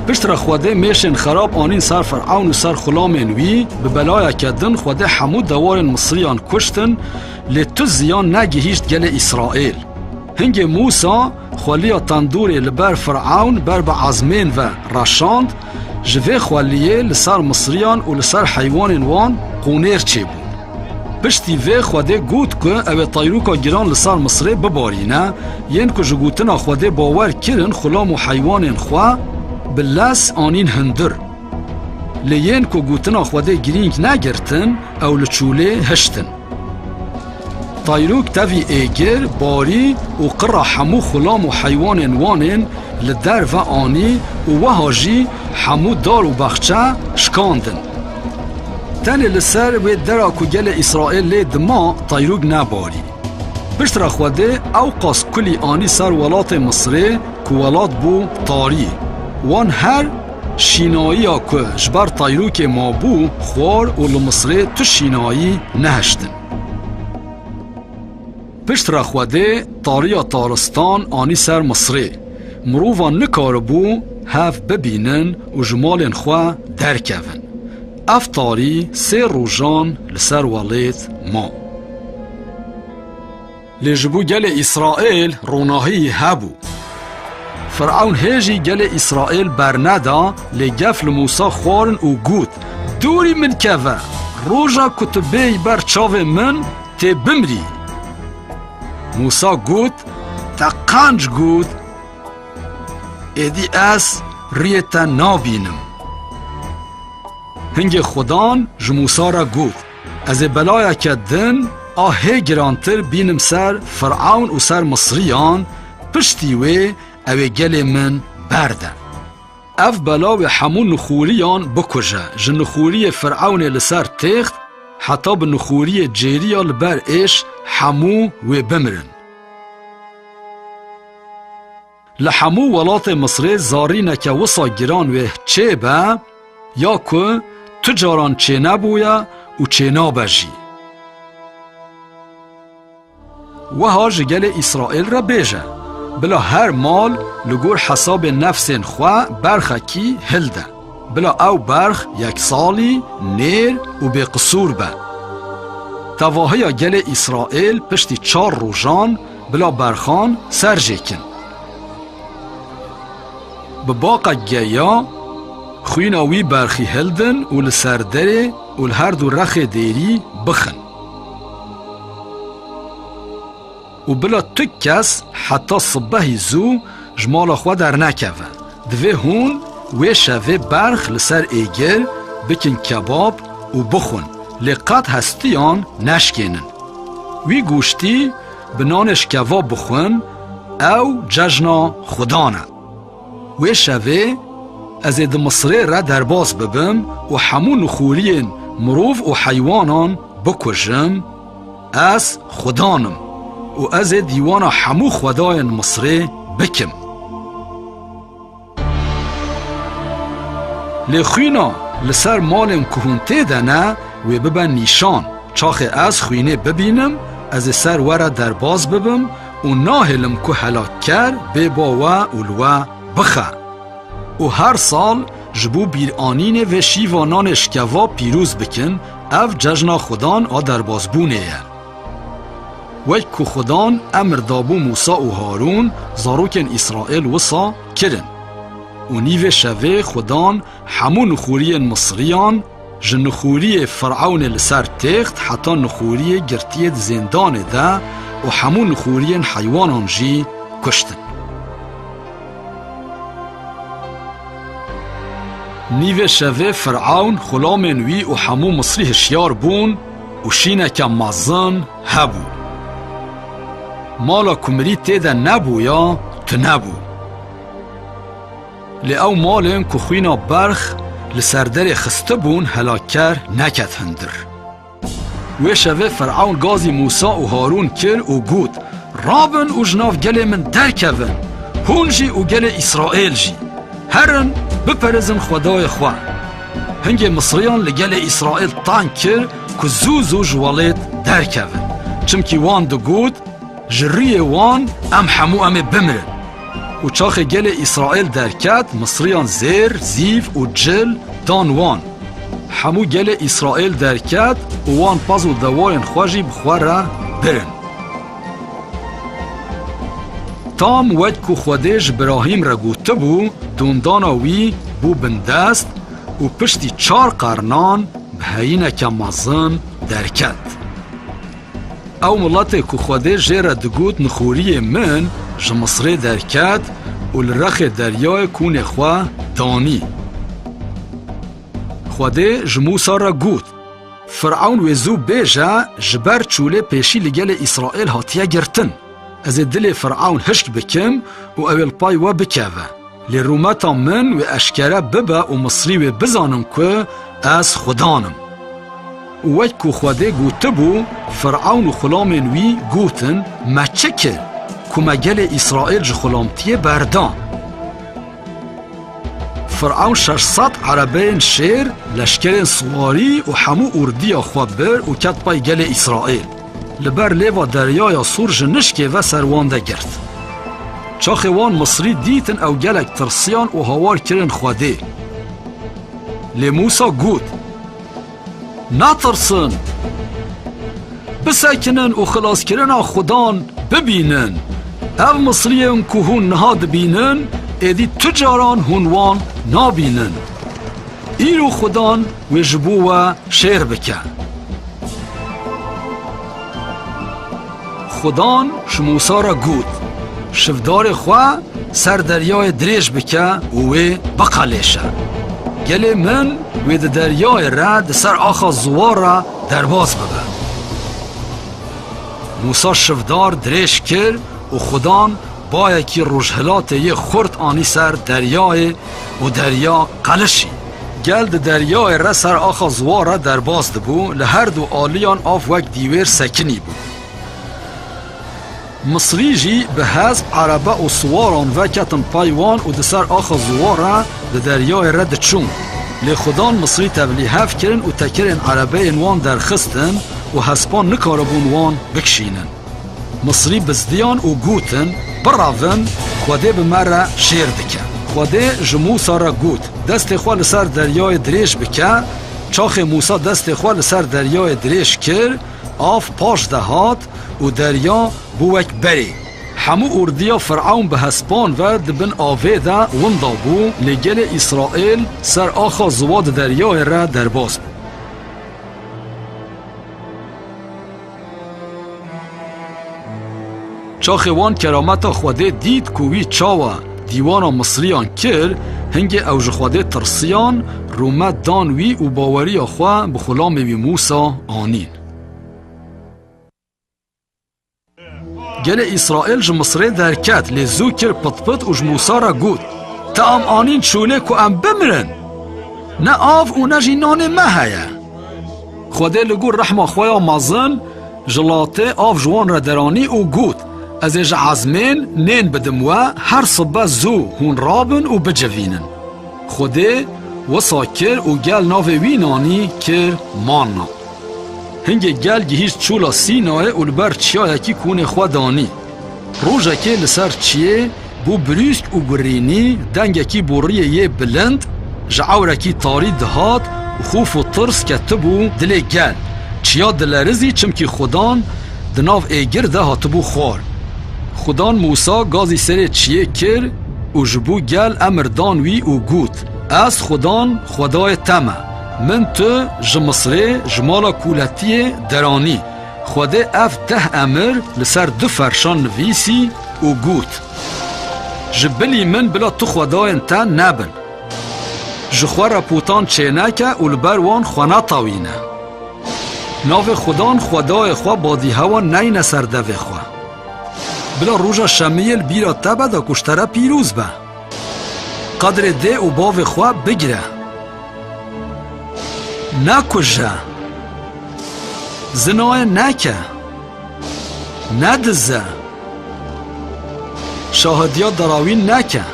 Piştre Xwedê mêşên xerab anîn ser Firewn û ser xulamên wî, bi belayeke din Xwedê hemû dewarên Misriyan kuştin, lê tu ziyan negihîşt gelê Îsraîl. Hingê Mûsa xweliya tendûrê li ber Firewn ber bi ezmên ve reşand, ji vê xweliyê li ser Misriyan û li ser heywanên wan qûnêr çêbû. Piştî vê Xwedê got ku ew ê tayrûka giran li ser Misirê bibarîne, yên ku ji gotina Xwedê bawer kirin xulam û heywanên xwe bi lez anîn hundir. Lê yên ku gotina Xwedê girîng negirtin, ew li çolê hiştin. Tayrûk tevî êgir, barî û qira hemû xulam û heywanên Wanên li derve anî û wiha jî hemû dar û bexçe şkandin. Tenê li ser wê dera ku gelê Îsraîl lê dima Tayrûg nebarî. Piştre Xwedê ewqas kulî anî ser welatê Misirê ku welat bû tarî. Wan her şînayiya ku ji ber Tayrûkê mabû xwar û li Misirê tu şînayî nehiştin. Pişt re Xwedê tariya taristan anî ser Misrê. Mirovan nikaribû hev bibînin û ji malên xwe derkevin. Ev tarî sê rojan li ser welêt ma. Lê ji bo gelê Îsraîl ronahî hebû. Firewn hê jî gelê Îsraîl berneda lê gef li Mûsa xwarin û got, Dûrî min keve! Roja ku tu bêyî ber çavên min, tê bimrî. Mûsa got, Te qanc got, êdî ez riyê te nabînim. Hingê Xudan ji Mûsa re got, Ez ê belayeke din a hê girantir bînim ser Firewn û ser Misriyan, piştî wê ew ê gelê min berde. Ev bela wê hemû nixûriyan bikuje. Ji nixûriyê Firewnê li ser têxt heta bi nixûriyê cêriya li ber êş hemû wê bimirin. Li hemû welatê Misirê zarîneke wisa giran wê çê be ya ku tu caran çênebûye û çênabe jî. Wiha ji gelê Îsraîl re bêje, Bila her mal li gor hesabê nefsên xwe berxekî hil de. Bila ew berx yeksalî, nêr û bêqisûr be. Tevahiya gelê Îsraîl piştî çar rojan bila berxan ser jê kin. Bi baqek geya, xwîna wî berxî hildin û li ser derê û li her du rexê dêrî bixin. û bila tu kes heta sibehî zû ji mala xwe dernekeve. Divê hûn wê şevê berx li ser êgir bikin kebab û bixwin, lê qet hestiyan neşkênin. Wî goştî bi nanê ji kebab bixwin ew cejna xudan e. Wê şevê ez ê di Misirê re derbas bibim û hemû nixûriyên mirov û heywanan bikujim, ez Xudan im û ez ê dîwana hemû xwedayên Misirê bikim. Lê xwîna li ser malên ku hûn tê de ne, wê bibe nîşan, çaxê ez xwînê bibînim, ez ê ser we re derbas bibim, Û nahêlim ku helakker bê bo we û li we bixe. Û her sal ji bo bîranînê vê şîva nanê şikeva pîroz bikin, ev cejna Xudan a derbasbûnê ye. Wek ku Xudan emr dabû Mûsa û Harûn, zarokên Îsraîl wisa kirin. Û nîvê şevê Xudan hemû nixûriyên Misriyan, Ji nixûriyê Firewnê li ser têxt heta nixûriyê girtiye di zêndanê de û hemû nixûriyên heywanan jî kuştin. Nîvê şevê Firewn, xulamên wî û hemû Misrî hişyar bûn û şîneke mezin hebû. Mala ku mirî tê de nebûya, tune bû. Lê ew malên ku xwîna berx li ser derê xistibûn helakker neket hundir. Wê şevê Firewn gazî Mûsa û Harûn kir û got, Rabin û ji nav gelê min derkevin, hûn jî û gelê Îsraîl jî. Herin biperêzin xwedayê xwe. Hingê Misriyan li gelê Îsraîl tang kir ku zû zû ji welêt derkevin. Çimkî wan digot, Ji rûyê wan em hemû em ê bimirin. Û çaxê gelê Îsraîl derket, Misriyan zêr, zîv û cil dan wan. Hemû gelê Îsraîl derket û wan pez û dewayên xwe jî bi xwe re birin. Tam wek ku Xwedê ji Birahîm re gotibû, dondana wî bû bindest û piştî çar qernan bi heyîneke mezin derket. Ew miletê ku Xwedê jê re digot nixoriyê min ji Misirê derket û li rexê deryayê kûnê xwe danî. Xwedê ji Mûsa re got, Firewn wê zû bêje ji ber çûlê pêşî li gelê Îsraîl hatiye girtin. Ez ê dilê Firewn hişk bikim û ew ê li pay we bikeve. Lê rûmeta min wê eşkere bibe û Misrî wê bizanin ku ez Xudan im. Û wek ku Xwedê gotibû, Firewn û xulamên wî gotin, Me çi kir, ku me gelê Îsraîl ji xulamtiyê berda? Firewn şeş sed erebeyên şêr, leşkerên siwarî û hemû ordiya xwe bir û ket pey gelê Îsraîl. Li ber lêva deryaya sor ji nişkê ve ser wan de girt. Çaxê wan Misrî dîtin ew gelek tirsiyan û hawar kirin Xwedê. Lê Mûsa got, Netirsin! Bisekinin û xilaskirina Xwedan bibînin. Ev Misriyên ku hûn niha dibînin, êdî tu caran hûn wan nabînin. Îro xudan wê ji bo we şêr bike. Xudan ji Mûsa re got, Şivdarê xwe ser deryayê dirêj bike û wê biqelêşe. Gelê min wê di deryayê re di ser axa ziwa re derbas bibe. Mûsa şivdar dirêj kir û xudan Bayekî rojhilatê yê xurt anî ser deryayê û derya qelişî. Gel di deryayê re ser axa ziwa re derbas dibû, li her du aliyan av wek dîwêr sekinî bû. Misrî jî bi hesp, erebe û siwaran ve ketin pey wan û di ser axa ziwa re di deryayê re diçûn. Lê xudan Misrî tevlî hev kirin û tekirên erebeyên wan derxistin û hespan nikaribûn wan bikişînin. Misrî bizdiyan û gotin, Bira vin, Xwedê bi me re şêr dike. Xwedê ji Mûsa re got, Destê xwe li ser deryayê dirêj bike. Çaxê Mûsa destê xwe li ser deryayê dirêj kir, av paş de hat û derya bû wek berê. Hemû ordiya Firewn bi hespan ve di bin avê de winda bû, lê gelê Îsraîl ser axa ziwa di deryayê re derbas bû. Çaxê wan kerameta Xwedê dît ku wî çawa dîwana Misriyan kir, hingê ew ji Xwedê tirsiyan, rûme dan wî û baweriya xwe bi xulamê wî Mûsa anîn. Gelê Îsraîl ji Misrê derket lê zû kir pitpit û ji Mûsa re got, Te em anîn şûnê ku em bimirin. Ne av û ne jî nanê me heye. Xwedê li gor rehma xwe ya mezin ji latê av ji wan re deranî û got, Ez ê ji ezmên nên bidim we her sibe zû hûn rabin û bicivînin. Xwedê wisa kir û gel navê wî nanî kir Manna. Hingê gel gihîşt çûla Sînayê û li ber çiyayekî konê xwe danî. Rojekê li ser çiyê bû brîsk û gurînî, dengekî boriyê yê bilind ji ewrekî tarî dihat û xof û tirs ketibû dilê gel. Çiya dilerizî çimkî xudan di nav êgir de hatibû xwar. Xudan Mûsa gazî serê çiyê kir û ji bo gel emir dan wî û got, Ez xudan, xwedayê te me. Min tu ji Misirê, ji mala kûletiyê deranî. Xwedê ev deh emir li ser du ferşan nivîsî û got, Ji bilî min bila tu xwedayên te nebin. Ji xwe re putan çêneke û li ber wan xwe netawîne. Navê Xudan xwedayê xwe badîhewa neyne ser devê xwe. Bila roja şemiyê li bîra te be da ku ji te re pîroz be. Qadrê dê û bavê xwe bigire. Nekuje. Zinayê neke. Nedize. Şahidiya derawîn neke.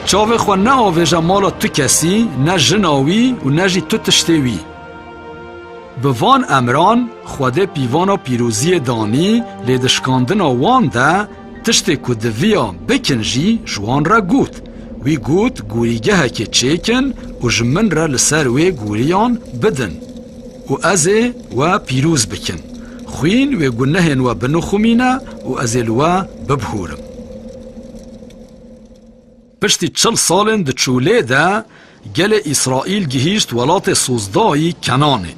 Çavê xwe neavêje mala tu kesî, ne jina wî û ne jî tu tiştê wî. Bi van emran Xwedê pîvana pîroziyê danî lê di şikandina wan de Tiştê ku diviyan bikin jî ji wan re got. Wî got gûrîgehekê çêkin û ji min re li ser wê gûriyan bidin û ez ê we pîroz bikim. Xwîn wê gunehên we binixumîne û ez ê li we bibhurim. Piştî çil salên di çûlê de gelê Îsraîl gihîşt welatê Sozdayî Kenanê.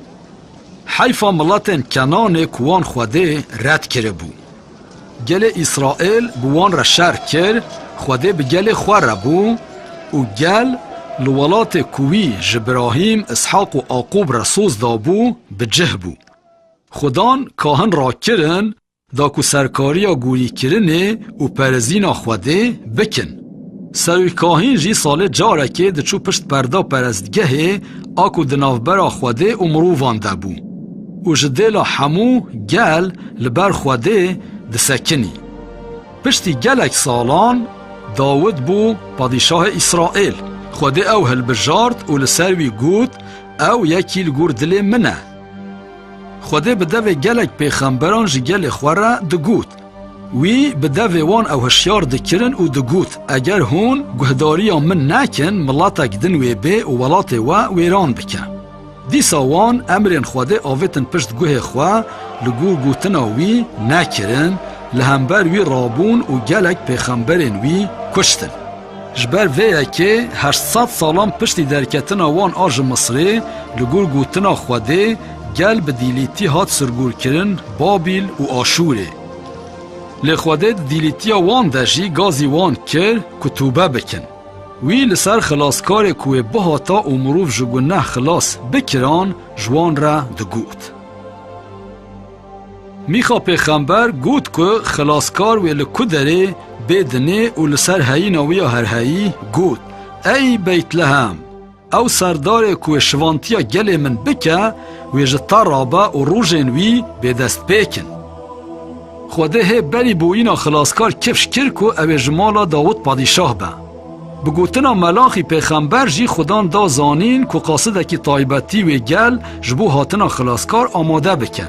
Heyfa miletên Kenanê ku wan Xwedê red kiribû. Gelê Îsraîl bi wan re şer kir, Xwedê bi gelê xwe re bû û gel li welatê ku wî ji Birahîm, Îshaq û Aqûb re soz dabû bi cih bû. Xudan kahin rakirin Da ku serkariya gûrîkirinê û perezîna Xwedê bikin. Serokahîn jî salê carekê diçû pişt perda perestgehê a ku di navbera Xwedê û mirovan de bû û ji dêla hemû gel li ber Xwedê disekinî. Piştî gelek salan Dawid bû padîşahê Îsraîl. Xwedê ew hilbijart û li ser wî got, Ew yekî li gor dilê min e. Xwedê bi devê gelek pêxemberan ji gelê xwe re digot. Wî bi devê wan ew hişyar dikirin û digot, Eger hûn guhdarîya min nekin, miletek din wê bê û welatê we wêran bike. Dîsa wan emrên Xwedê avêtin pişt guhê xwe, li gor gotina wî nekirin, li hember wî rabûn û gelek pêxemberên wî kuştin. Ji ber vê yekê heşt sed salan piştî derketina wan a ji Misirê, li gor gotina Xwedê, gel bi dîlîtî hat sirgûrkirin Babîl û Aşûrê. Lê Xwedê di dîlîtiya wan de jî gazî wan kir ku tûbe bikin. Wî li ser xilaskarê ku wê bihata û mirov ji guneh xilas bikiran ji wan re digot. Mîxa pêxember got ku xilaskar wê li ku derê bê dinê û li ser heyîna wî ya herheyî got, Ey Beytlehem! Ew serdarê ku wê şivantiya gelê min bike, wê ji te re be û rojên wî bêdestpêk in. Xwedê hê berî boyîna xilaskar kifş kir ku ew ê ji mala Dawûd padîşah be. Bi gotina Melaxî pêxember jî Xudan da zanîn ku qasidekî taybetî wê gel ji bo hatina Xilaskar amade bike.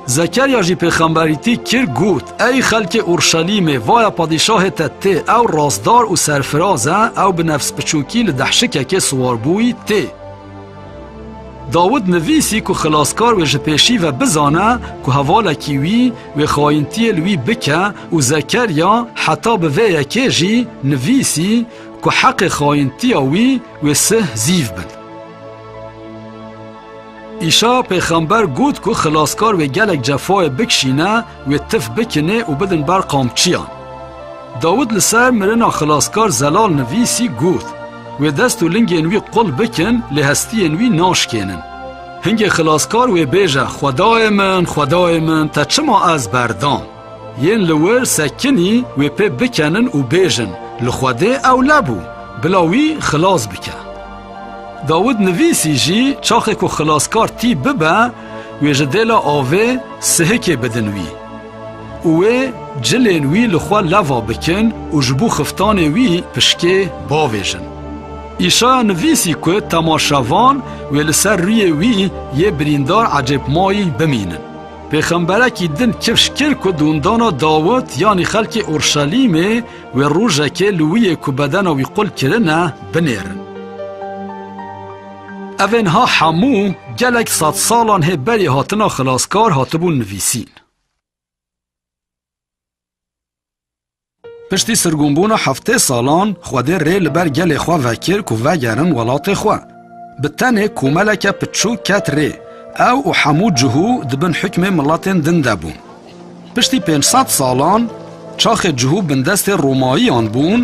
Zekerya jî pêxemberîtî kir got, Ey xelkê Urşelîmê, vaya padîşahê te tê, ew rastdar û serfiraz e, ew bi nefspiçokî li dehşikekê siwar bûyî tê. Dawid nivîsî ku xilaskar wê ji pêşî ve bizane ku hevalekî wî wê xayintiyê li wî bike û Zekerya heta bi vê yekê jî nivîsî ku heqê xayintiya wî wê sih zîv bin. Îşa pêxember got ku xilaskar wê gelek cefayê bikişîne, wê tif bikinê û bidin ber qamçiyan. Dawid li ser mirina xilaskar zelal nivîsî got, Wê dest û lingên wî qul bikin lê hestiyên wî naşkênin. Hingê xilaskar wê bêje, Xwedayê min, Xwedayê min, te çima ez berdam? Yên li wir sekinî wê pê bikenin û bêjin, Li Xwedê ewle bû, bila wî xilas bike. Dawid nivîsî jî çaxê ku xilaskar tî bibe wê ji dêla avê sihikê bidin wî. û wê cilên wî li xwe leva bikin û ji bo xiftanê wî pişkê bavêjin. Îşaya nivîsî ku temaşevan wê li ser rûyê wî yê birîndar ecêbmayî bimînin. Pêxemberekî din kifş kir ku dûndana Dawit yanî xelkê Urşelîmê wê rojekê li wîyê ku bedena wî qul kirine binêrin. Ev ên ha hemû gelek sedsalan hê berê hatina xilaskar hatibûn nivîsîn. Piştî sirgûnbûna heftê salan Xwedê rê li ber gelê xwe vekir ku vegerin welatê xwe. Bi tenê komeleke piçûk ket rê. Ew û hemû cihû di bin hikmê miletên din de bûn. Piştî pênc sed salan çaxê cihû bindestê Romayiyan bûn,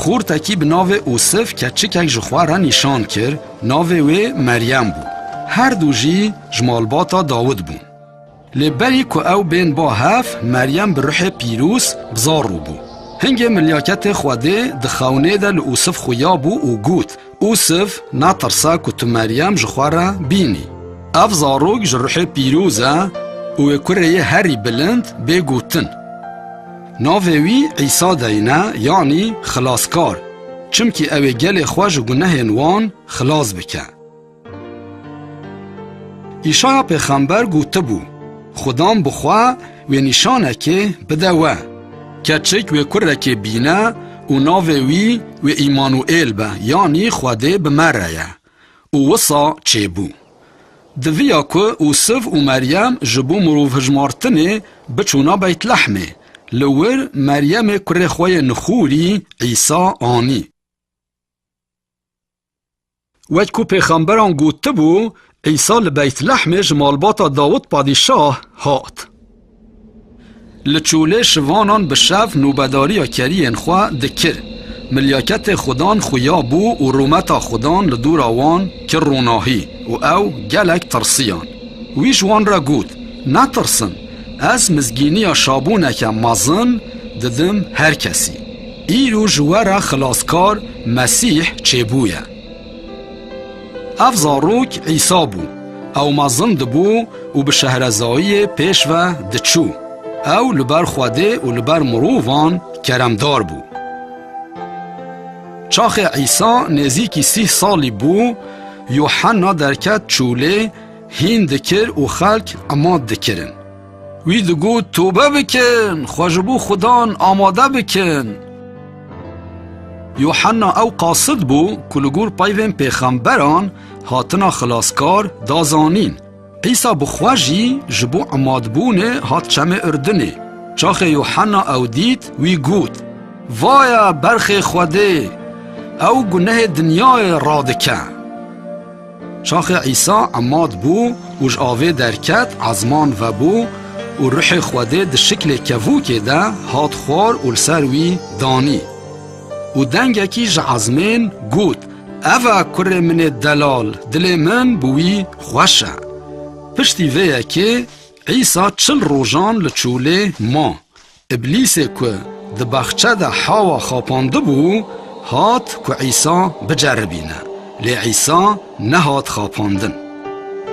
xortekî bi navê Usif keçikek ji xwe re nîşan kir, navê wê Meryem bû. Her du jî ji malbata Dawid bûn. Lê berî ku ew bên bo hev, Meryem bi ruhê pîrûz bi zar rûbû. Hingê milyaketê Xwedê di xewnê de li Usif xuya bû û got, Usif, natirsa ku tu Meryem ji xwe re bînî. Ev zarok ji ruhê pîrûz e û wê kurê yê herî bilind bê gotin. Navê wî Îsa deyne yanî Xilaskar, çimkî ew ê gelê xwe ji gunehên wan xilas bike. Îşaya pêxember gotibû, Xwedam bi xwe wê nîşanekê bide we, Keçik wê kurekê bîne û navê wî wê Îmanuêl be yanî Xwedê bi me re ye. Û wisa çêbû. Diviya ku Usif û Meryem ji bo mirovhijmartinê biçûna Beytlehmê, li wir Meryemê kurê xwe yê nixûrî Îsa anî. Wek ku pêxemberan gotibû, Îsa li Beytlehmê ji malbata Dawid Padîşah hat. Li çolê şivanan bi şev nobedariya keriyên xwe dikir. Milyaketê Xudan xuya bû û rûmeta Xudan li dora wan kir ronahî û ew gelek tirsiyan. Wî ji wan re got, Netirsin, ez mizgîniya şabûneke mezin didim her kesî. Îro ji we re Xilaskar Mesîh çêbûye. Ev zarok Îsa bû. Ew mezin dibû û bi şehrezayiyê pêş ve diçû. Ew li ber Xwedê û li ber mirovan keremdar bû. Çaxê Îsa nêzîkî sîh salî bû, Yuhanna derket çûlê, hîn dikir û xelk emat dikirin. Wî digot tobe bikin, xwe ji bo Xudan amade bikin. Yuhanna ew qasid bû ku li gor peyvên pêxemberan hatina Xilaskar da zanîn. Îsa bi xwe jî ji bo emadbûnê hat çemê Urdinê. Çaxê Yuhanna ew dît, wî got, Vaye berxê Xwedê, ew gunehê dinyayê radike. Çaxê Îsa emat bû û ji avê derket, ezman vebû û Ruhê Xwedê di şiklê kevûkê de hat xwar û li ser wî danî. Û dengekî ji ezmên got, Ev e Kurê min ê delal, dilê min bi wî xweş e. Piştî vê yekê Îsa çil rojan li çûlê ma. Îblîsê ku di baxçe de hawa xapandibû, hat ku Îsa biceribîne, lê Îsa nehat xapandin.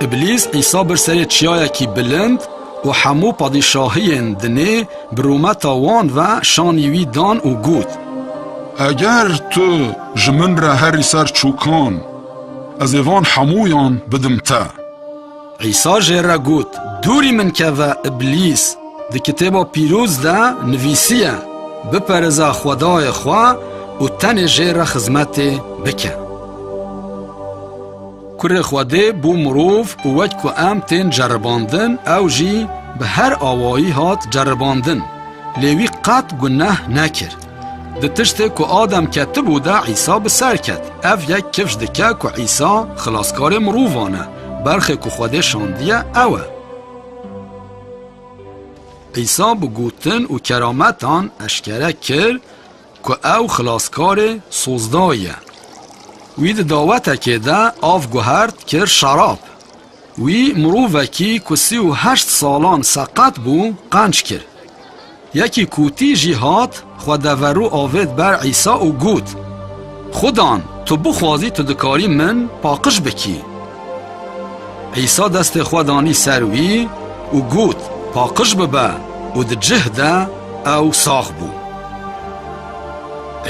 Îblîs Îsa bir serê çiyayekî bilind û hemû padîşahiyên dinê bi rûmeta wan ve şanî wî dan û got, Eger tu ji min re herî ser çûkan, ez ê van hemûyan bidim te. Îsa jê re got, Dûrî min keve, Îblîs! Di Kitêba Pîroz de nivîsiye, Biperêze Xwedayê xwe û tenê jê re xizmetê bike. Kurê Xwedê bû mirov û wek ku em tên ceribandin, ew jî bi her awayî hat ceribandin, lê wî qet guneh nekir. Di tiştê ku Adem ketibû de Îsa bi ser ket. Ev yek kifş dike ku Îsa Xilaskarê mirovan e. Berxê ku Xwedê şandiye ew e. Îsa bi gotin û kerametan eşkere kir ku ew xilaskarê sozda ye. Wî di dawetekê de av guhert kir şerab. Wî mirovekî ku sî û heşt salan seqet bû qenc kir. Yekî kûtî jî hat, xwe deverû avêt ber Îsa û got, Xudan, tu bixwazî tu dikarî min paqij bikî. Îsa destê xwe danî ser wî û got, Paqij bibe û di cih de ew sax bû.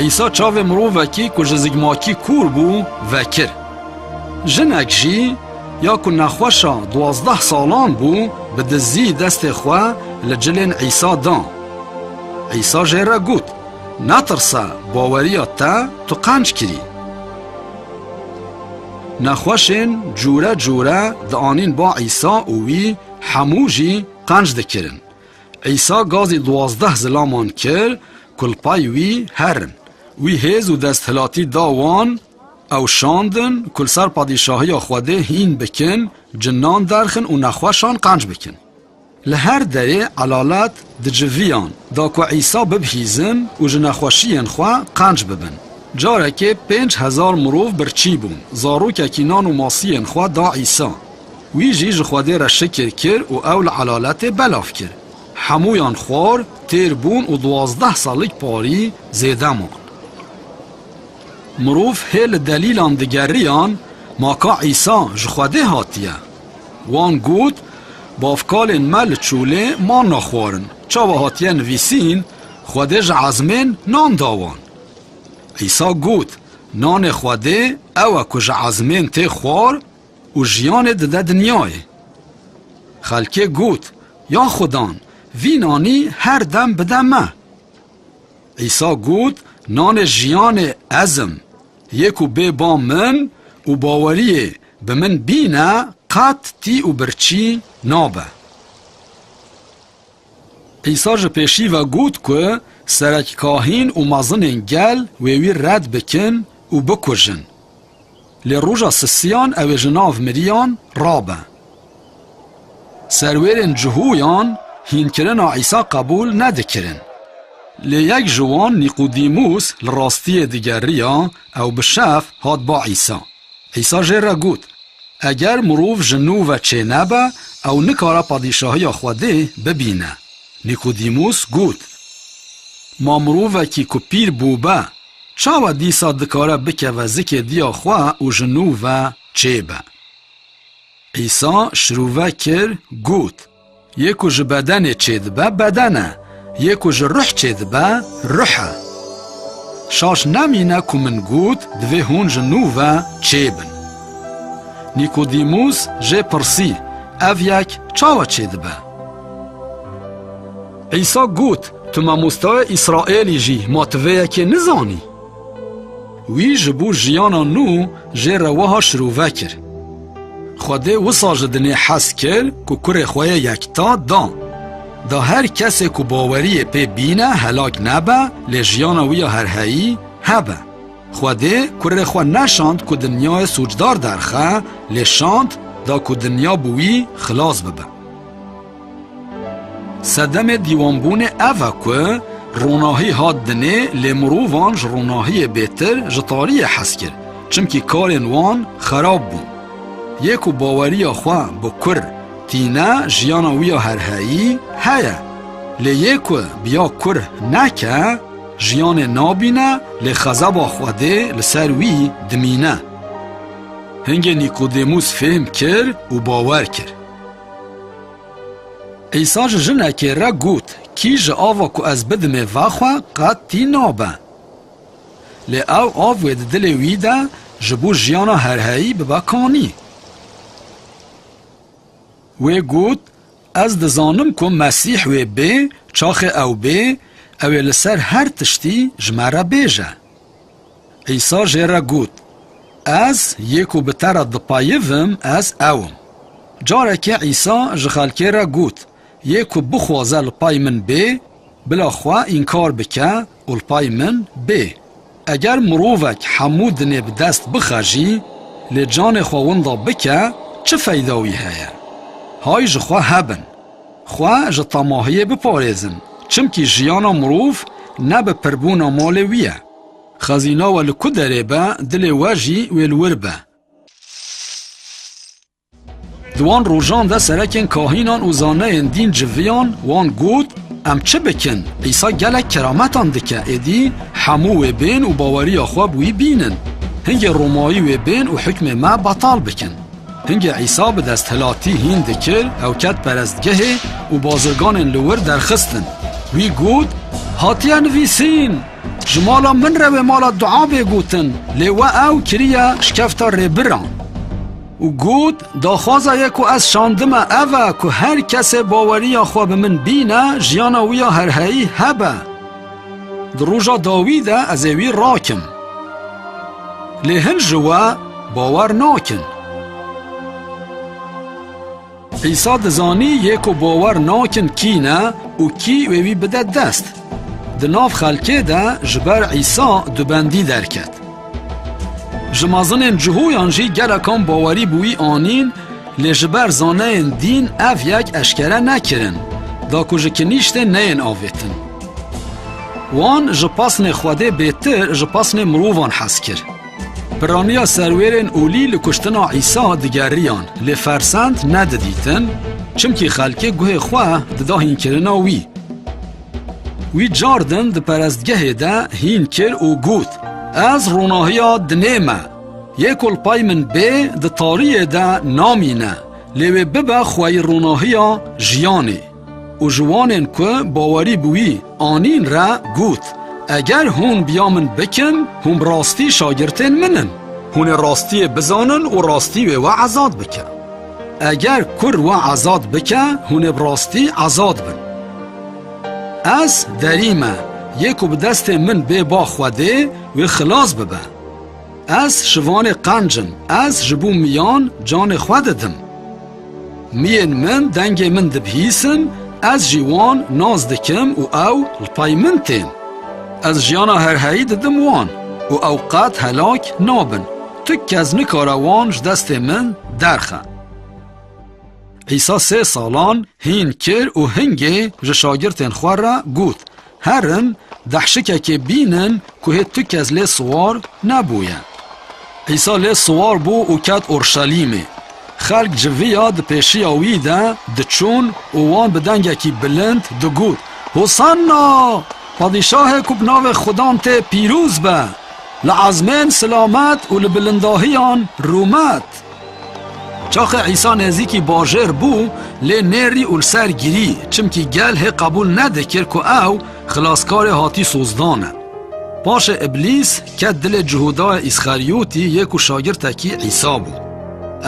Îsa çavê mirovekî ku ji zigmakî kûr bû vekir. Jinek jî. Ya ku nexweşa duwazdeh salan bû, bi dizî destê xwe li cilên Îsa da. Îsa jê re got, Netirse, baweriya te tu qenc kirî. Nexweşên cûre cûre dianîn ba Îsa û wî hemû jî qenc dikirin. Îsa gazî duwazdeh zilaman kir ku li pay wî herin. Wî hêz û desthilatî da wan Ew şandin ku li ser padîşahiya Xwedê hîn bikin, cinan derxin û nexweşan qenc bikin. Li her derê elalet di civiyan da ku Îsa bibihîzin û ji nexweşiyên xwe qenc bibin. Carekê pênc hezar mirov birçî bûn, zarokekî nan û masiyên xwe da Îsa. Wî jî ji Xwedê re şikir kir û ew li elaletê belav kir. Hemûyan xwar, têr bûn û duwazdeh salik parî zêde man. Mirov hê li delîlan digeriyan, ma ka Îsa ji Xwedê hatiye? Wan got, Bavkalên me li çolê manna xwarin, çawa hatiye nivîsîn, Xwedê ji ezmên nan da wan? Îsa got, Nanê Xwedê ew e ku ji ezmên tê xwar û jiyanê dide dinyayê. Xelkê got, Ya Xwedan, vî nanî her dem bide me. Îsa got, Nanê jiyanê ez im. Yê ku bê ba min û baweriyê bi min bîne qet tî û birçî nabe. Îsa ji pêşî ve got ku serekkahîn û mezinên gel wê wî red bikin û bikujin. Lê roja sisiyan ew ê ji nav miriyan rabe. Serwêrên Cihoyan hînkirina Îsa qebûl nedikirin. Lê yek ji wan Nîqûdîmûs li rastiyê digeriya, ew bi şex hat ba Îsa. Îsa jê re got, Eger mirov ji nû ve çênebe, ew nikare padîşahiya Xwedê bibîne. Nîqûdîmûs got, Ma mirovekî ku pîr bûbe, Çawa dîsa dikare bikeve zikê diya xwe û ji nû ve çêbe? Îsa şirûve kir got, Yê ku ji bedenê çêdibe beden e, yê ku ji ruh çêdibe ruh e. Şaş nemîne ku min got divê hûn ji nû ve çêbin. Nîkodîmûs jê pirsî, Ev yek çawa çêdibe? Îsa got, Tu mamosteya Îsraelî jî, ma tu vê yekê nizanî? Wî ji bo jiyana nû jê re wiha şirove kir, Xwedê wisa ji dinê hez kir ku kurê xwe yê yekta da. Da her kesê ku baweriyê pê bîne helak nebe, lê jiyana wî ya herheyî hebe. Xwedê kurê xwe neşand ku dinyayê sûcdar derxe, lê şand da ku dinya bi wî xilas bibe. Sedemê dîwanbûnê ev e ku ronahî hat dinê lê mirovan ji ronahiyê bêtir ji tariyê hez kir çimkî karên wan xerab bûn. Yê ku baweriya xwe bi kur tîne jiyana wî ya herheyî heye lê yê ku bi ya kur neke jiyanê nabîne lê xezeba Xwedê li ser wî dimîne. Hingê Nîkodêmûs fêhm kir û bawer kir. Îsa ji jinekê re got, Kî ji ava ku ez bidimê ve xwe, qet tî nabe. Lê ew av wê di dilê wî de ji bo jiyana herheyî bibe kanî. Wê got, Ez dizanim ku Mesîh wê bê, çaxê ew bê, ew ê li ser her tiştî ji me re bêje. Îsa jê re got, Ez yê ku bi te re dipayivim ez ew im. Carekê Îsa ji xelkê re got, Yê ku bixwaze li pay min bê, bila xwe înkar bike û li pay min bê. Eger mirovek hemû dinê bi dest bixe jî, lê canê xwe winda bike, çi feyda wî heye? Hay ji xwe hebin. Xwe ji temahiyê biparêzin, çimkî jiyana mirov ne bi pirbûna malê wî ye. Xezîna we li ku derê be, dilê we jî wê li wir be. Di wan rojan de serekên kahînan û zaneyên dîn civiyan, wan got, Em çi bikin? Îsa gelek kerametan dike, êdî hemû wê bên û baweriya xwe bi wî bînin. Hingê Romayî wê bên û hukmê me betal bikin. Hingê Îsa bi desthilatî hîn dikir, ew ket perestgehê û bazirganên li wir derxistin. Wî got, Hatiye nivîsîn! Ji mala min re wê mala dua bê gotin, lê we ew kiriye şikefta rêbiran. Û got, Daxwaza ye ku ez şandime ev e ku her kesê baweriya xwe bi min bîne, jiyana wî ya herheyî hebe. Di roja dawî de ez ê wî rakim. Lê hin ji we bawer nakin. Îsa dizanî yê ku bawer nakin kî ne û kî wê wî bide dest. Di nav xelkê de ji ber Îsa dubendî derket. Ji mezinên cihoyan jî gelekan bawerî bi wî anîn lê ji ber zaneyên dîn ev yek eşkere nekirin da ku ji kinîştê neyên avêtin. Wan ji pesnê Xwedê bêtir ji pesnê mirovan hez kir. Piraniya serwêrên olî li kuştina Îsa digeriyan, lê fersend nedidîtin, çimkî xelkê guhê xwe dida hînkirina wî. Wî car din di perestgehê de hîn kir û got, Ez ronahiya dinê me. Yê ku li pay min bê, di tariyê de namîne, lê wê bibe xweyî ronahiya jiyanê. Û ji wanên ku bawerî bi wî anîn re got, Eger hûn biya min bikin, hûn bi rastî şagirtên min in. Hûn ê rastiyê bizanin û rastî wê we azad bike. Eger kur we azad bike, hûn ê bi rastî azad bin. Ez derî me, yê ku bi destê min bê ba Xwedê, wê xilas bibe. Ez şivanê qenc im, ez ji bo miyan canê xwe didim. Miyên min dengê min dibihîsin, ez jî wan nas dikim û ew li pay min tên. Ez jiyana herheyî didim wan û ew qet helak nabin. Tu kes nikare wan ji destê min derxe. Îsa sê salan hîn kir û hingê ji şagirtên xwe re got, Herim dehşikekê bînin ku hê tu kes lê siwar nebûye. Îsa lê siwar bû û ket Urşelîmê. Xelk ji viya di pêşiya wî de diçûn û wan bi dengekî bilind digot, Hosanna! Padîşahê ku bi navê Xudan tê pîroz be! Li ezmên silamet û li bilindahiyan rûmet! Çaxê Îsa nezîkî bajêr bû, lê nêrî û li ser girî, çimkî gel hê qebûl nedikir ku ew Xilaskarê hatî sozdan e. Paşê Îblîs ket dilê Cihûdayê Îsxerîyotî yê ku şagirtekî Îsa bû.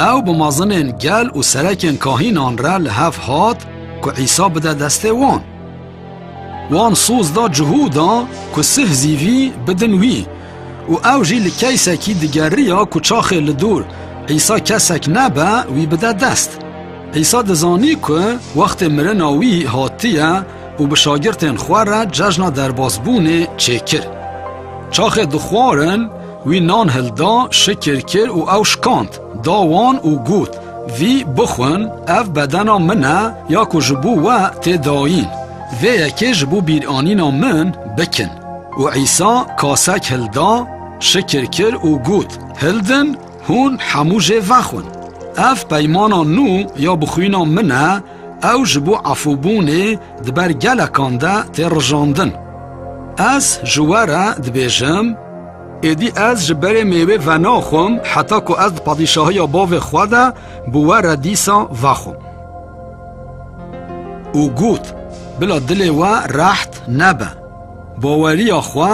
Ew bi mezinên gel û serekên kahînan re li hev hat ku Îsa bide destê wan. Wan soz da cihû da ku sih zîvî bidin wî û ew jî li keysekî digeriya ku çaxê li dûr Îsa kesek nebe wî bide dest. Îsa dizanî ku wextê mirina wî hatiye û bi şagirtên xwe re cejna derbasbûnê çêkir. Çaxê dixwarin wî nan hilda, şikir kir û ew şikand. Da wan û got, Vî bixwin, ev bedena min e ya ku ji bo we tê dayîn. Vê yekê ji bo bîranîna min bikin. Û Îsa kasek hilda, şikir kir û got, Hildin, hûn hemû jê vexwin. Ev peymana nû ya bi xwîna min e, ew ji bo efûbûnê di ber gelekan de tê rijandin. Ez ji we re dibêjim, Êdî ez ji berê mêwê venaxwim heta ku ez di padîşahiya bavê xwe de bi we re dîsa vexwim. Û got, Bila dilê we reht nebe. Baweriya xwe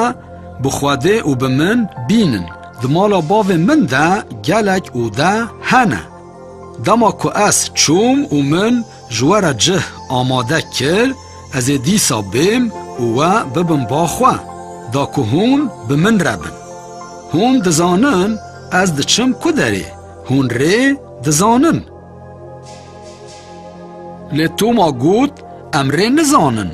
bi Xwedê û bi min bînin. Di mala bavê min de gelek ode hene. Dema ku ez çûm û min Ji we re cih amade kir, ez ê dîsa bêm û we bibim ba xwe, da ku hûn bi min re bin. Hûn dizanin ez diçim ku derê, hûn rê dizanin. Lê Toma got, Em rê nizanin.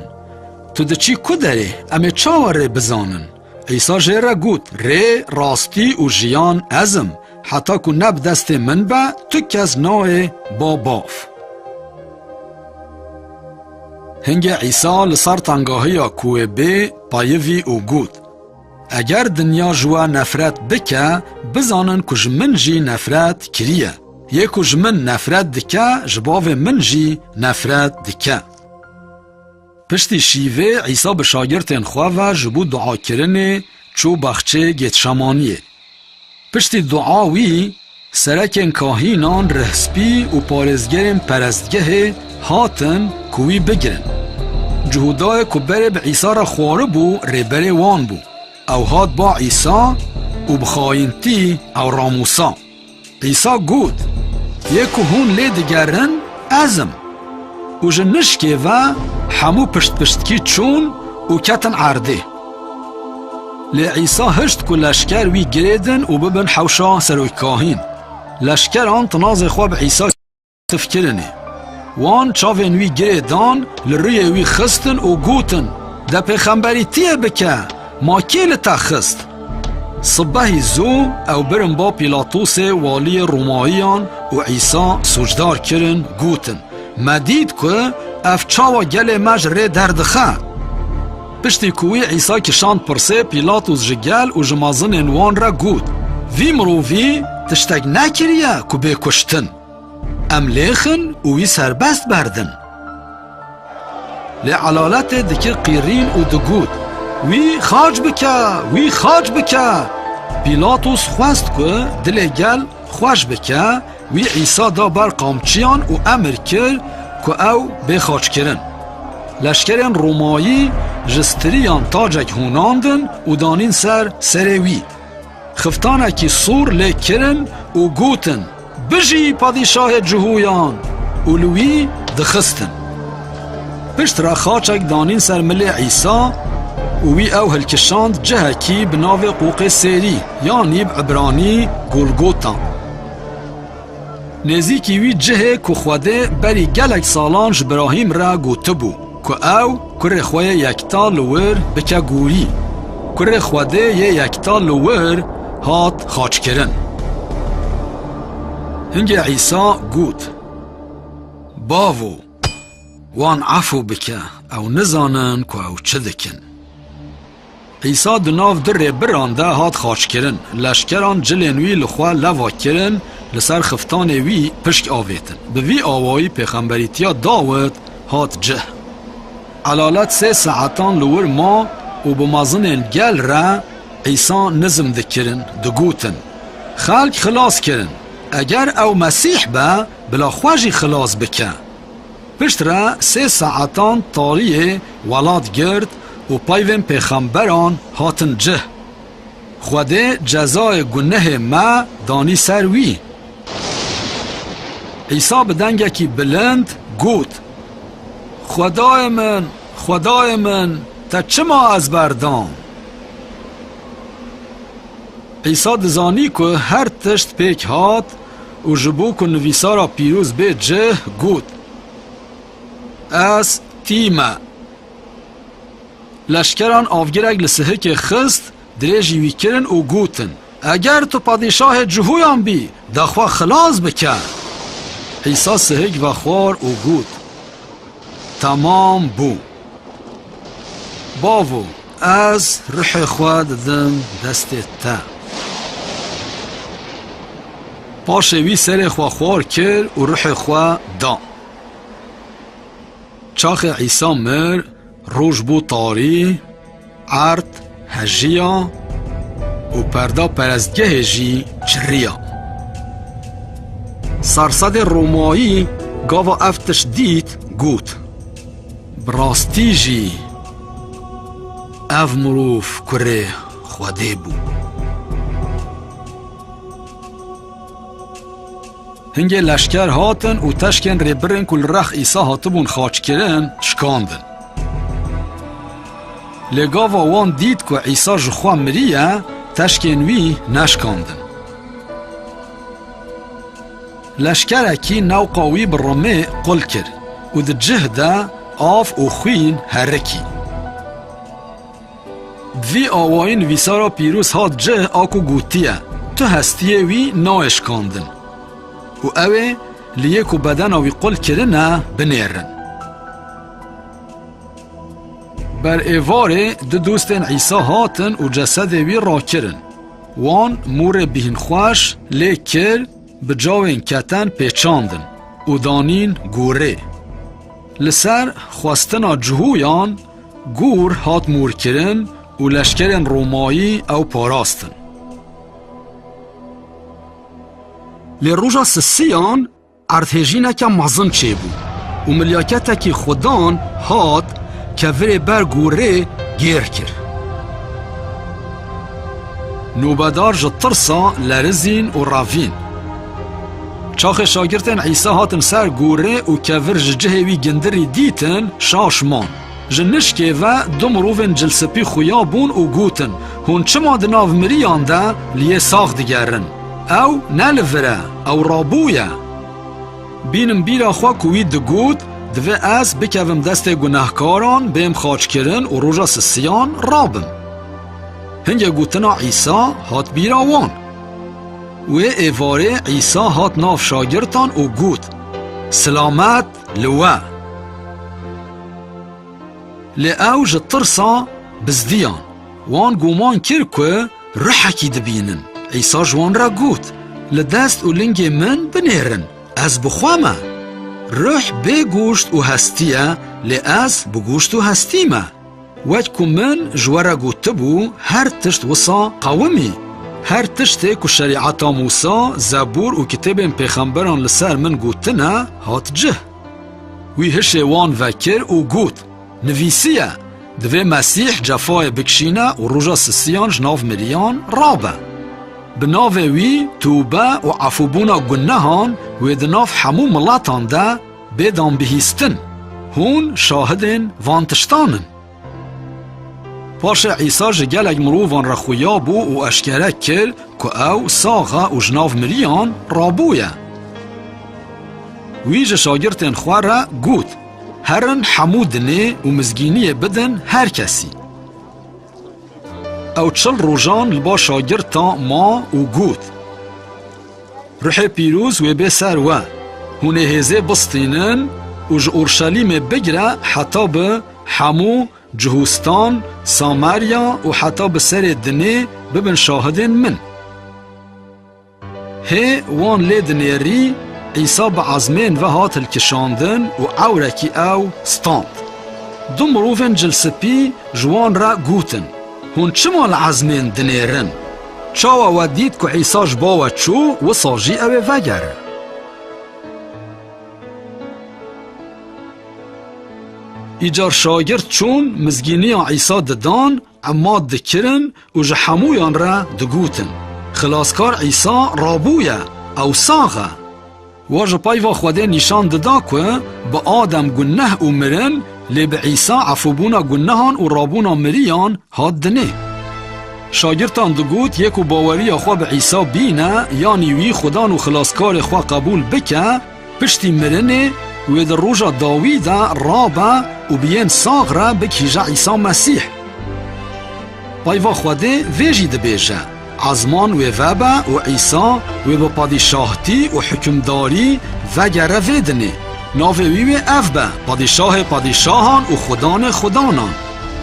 Tu diçî ku derê, em ê çawa rê bizanin? Îsa jê re got, Rê, rastî û jiyan ez im. Heta ku ne bi destê min be, tu kes nayê bo bav. Hingê Îsa li ser tangahiya ku wê bê payivî û got, Eger dinya ji we nefret bike, bizanin ku ji min jî nefret kiriye. Yê ku ji min nefret dike, ji bavê min jî nefret dike. Piştî şîvê Îsa bi şagirtên xwe ve ji bo duakirinê çû baxçeyê Gêtşemaniyê. Piştî dua wî serekên kahînan, rihspî û parêzgerên perestgehê hatin ku wî bigirin. Cihûdayê ku berê bi Îsa re xwaribû rêberê wan bû. Ew hat ba Îsa û bi xayintî ew ramûsa. Îsa got, Yê ku hûn lê digerin, ez im. Û ji nişkê ve hemû piştpiştkî çûn û ketin erdê. Lê Îsa hişt ku leşker wî girêdin û bibin hewşa serokkahîn. Leşkeran tinazê xwe bi Îsa tif kirinê. Wan çavên wî girê dan, li rûyê wî xistin û gotin, De pêxemberî tî yê bike, ma kê li te xist? Sibehî zû ew birin ba Pîlatosê waliyê Romayiyan û Îsa sûcdar kirin, gotin, Me dît ku ev çawa gelê me ji rê derdixe. Piştî ku wî Îsa kişand pirsê, Pîlatos ji gel û ji mazinên wan re got, Vî mirovî tiştek nekiriye ku bê kuştin. Em lêxin û wî serbest berdin. Lê elaletê dikir qîrîn û digot, Wî xaç bike, wî xaç bike! Pîlatos xwest ku dilê gel xweş bike, wî Îsa da ber qamçiyan û emir kir ku ew bê xaçkirin. Leşkerên Romayî ji stiriyan tacek hûnandin û danîn ser serê wî. Xiftanekî sor lê kirin û gotin, Bijî padîşahê cihûyan! û li wî dixistin. Pişt re xaçek danîn ser milê Îsa û wî ew hilkişand cihekî bi navê Qoqê Sêrî yanî bi îbranî Golgota. Nêzîkî wî cihê ku Xwedê berî gelek salan ji Brahîm re gotibû. Ku ew kurê xwe yê yekta li wir bike gorî. Kurê Xwedê yê yekta li wir hat xaçkirin. Hingê Îsa got, Bavo, wan efû bike, ew nizanin ku ew çi dikin. Îsa di nav du rêbiran de hat xaçkirin. Leşkeran cilên wî li xwe leva kirin, li ser xiftanê wî pişk avêtin. Bi vî awayî pêxemberîtiya Dawid hat cih. Elalet sê saetan li wir ma û bi mezinên gel re Îsa nizm dikirin, digotin, Xelk xilas kirin. Eger ew Mesîh be, bila xwe jî xilas bike. Piştre sê saetan tariyê welat gird û peyvên pêxemberan hatin cih. Xwedê cezayê gunehê me danî ser wî. Îsa bi dengekî bilind got, Xwedayê min, Xwedayê min, te çima ez berdan? Îsa dizanî ku her tişt pêk hat, û ji bo ku nivîsara pîroz bê cih got, Ez tî me. Leşkeran avgirek li sihikê xist, dirêjî wî kirin û gotin, Eger tu padîşahê cihoyan bî, de xwe xilas bike. Îsa sihik vexwar û got, Temam bû. Bavo, ez ruhê xwe didim destê te. Paşê wî serê xwe xwar kir û ruhê xwe da. Çaxê Îsa mir, roj bû tarî, Erd hejiya û perda perestgehê jî çirriya. Sersedê Romayî gava ev tişt dît got, Bi rastî jî ev mirov kurê Xwedê bû. Hingê leşker hatin û teşkên Rêbirin ku li rex Îsa hatibûn xaçkirin, şikandin. Lê gava wan dît ku Îsa ji xwe miriye, teşkên wî neşikandin. Leşkerekî newqa wî bi rimê qul kir û di cih de av û xwîn herikî. Vî awayîn vîsara pîroz hat cih a ku gotiye, Tu hestiyê wî nayê şikandin. Û ew ê li yê ku bedena wî qul kirine binêrin. Ber êvarê du dostên Îsa hatin û cesedê wî rakirin. Wan morê bîhinxweş lê kir, bi cawên keten pêçandin û danîn gorê. Li ser xwestina cihoyan Gûr hat mûrkirin û leşkerên Romayî ew parastin. Lê roja sisiyan erdhêjîneke mezin çêbû û milyaketekî xwedan hat kevirê ber gûrê gêr kir. Nobedar ji tirsa lerizîn û revîn. Çaxê şagirtên Îsa hatin ser gorê û kevir ji cihê wî gindirî dîtin, şaş man. Ji nişkê ve du mirovên cilspî xuya bûn û gotin, Hûn çima di nav miriyan de li yê sax digerin? Ew ne li vir e, ew rabûye. Bînim bîra xwe ku wî digot, Divê ez bikevim destê gunehkaran, bêm xaçkirin û roja sisiyan rabim. Hingê gotina Îsa hat bîra wan. Wê êvarê Îsa hat nav şagirtan û got, Silamet li we! Lê ew ji tirsa bizdiyan. Wan guman kir ku ruhekî dibînin. Îsa ji wan re got, Li dest û lingê min binêrin, ez bi xwe me. Ruh bê goşt û hestî ye, lê ez bi goşt û hestî me. Wek ku min ji we re gotibû, her tişt wisa qewim î. Her tiştê ku Şerîata Mûsa, Zebûr û kitêbên pêxemberan li ser min gotine, hat cih. Wî hişê wan vekir û got, Nivîsiye, Divê Mesîh cefayê bikişîne û roja sisiyan ji nav miriyan rabe. Bi navê wî tûbe û efûbûna gunehan wê di nav hemû miletan de, Bêdam bihîstin, hûn şahidên van tiştan in. Paşê Îsa ji gelek mirovan re xuya bû û eşkere kir ku ew sax e û ji nav miriyan rabûye. Wî ji şagirtên xwe re got, Herin hemû dinê û mizgîniyê bidin her kesî. Ew çil rojan li ba şagirtan ma û got, Ruhê pîroz wê bê ser we. Hûn ê hêzê bistînin û ji Urşelîmê bigire heta bi Hemû, Cihûstan, Samerya û heta bi serê dinê bibin şahidên min. Hê wan lê dinêrî, Îsa bi ezmên ve hat hilkişandin û ewrekî ew stand. Du mirovên cilspî ji wan re gotin, Hûn çima li ezmên dinêrin? Çawa we dît ku Îsa ji bo we çû, wisa jî ew ê vegere. Îcar şagirt çûn mizgîniya Îsa didan, emat dikirin û ji hemûyan re digotin, Xilaskar Îsa rabûye, ew sax e! Wa ji peyva Xwedê nîşan dida ku bi Adem guneh û mirin, lê bi Îsa efûbûna gunehan û rabûna miriyan hat dinê. Şagirtan digot yê ku baweriya xwe bi Îsa bîne, yanî wî Xudan û Xilaskarê xwe qebûl bike, piştî mirinê wê di roja dawî de rabe û bi yên sax re bigihîje Îsa Mesîh. Peyva Xwedê vê jî dibêje. Ezman wê vebe û Îsa wê bi padîşahtî û hikimdarî vegere vê dinê. Navê wî wê ev be, Padîşahê padîşahan û Xudanê xudanan.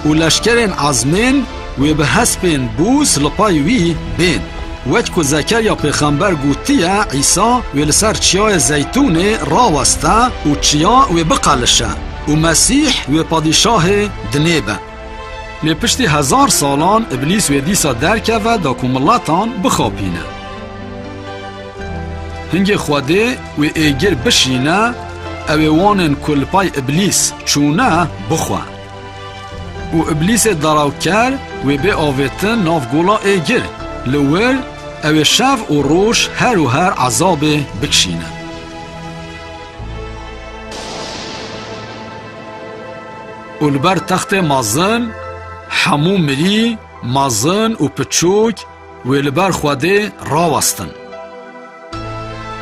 Û leşkerên ezmên wê bi hespên bûs li pay wî bên. Wek ku Zekerya pêxember gotiye Îsa wê li ser Çiyayê Zeytûnê raweste û çiya wê biqelişe û Mesîh wê padîşahê dinê be. Lê piştî hezar salan Îblîs wê dîsa derkeve da ku miletan bixapîne. Hingê Xwedê wê êgir bişîne, ew ê wanên ku li pay Îblîs çûne bixwe. Û Îblîsê derawker wê bê avêtin nav gola êgir, li wir ew ê şev û roj her û her ezabê bikişîne. Û li ber textê mezin hemû mirî, mezin û piçûk wê li ber Xwedê rawestin.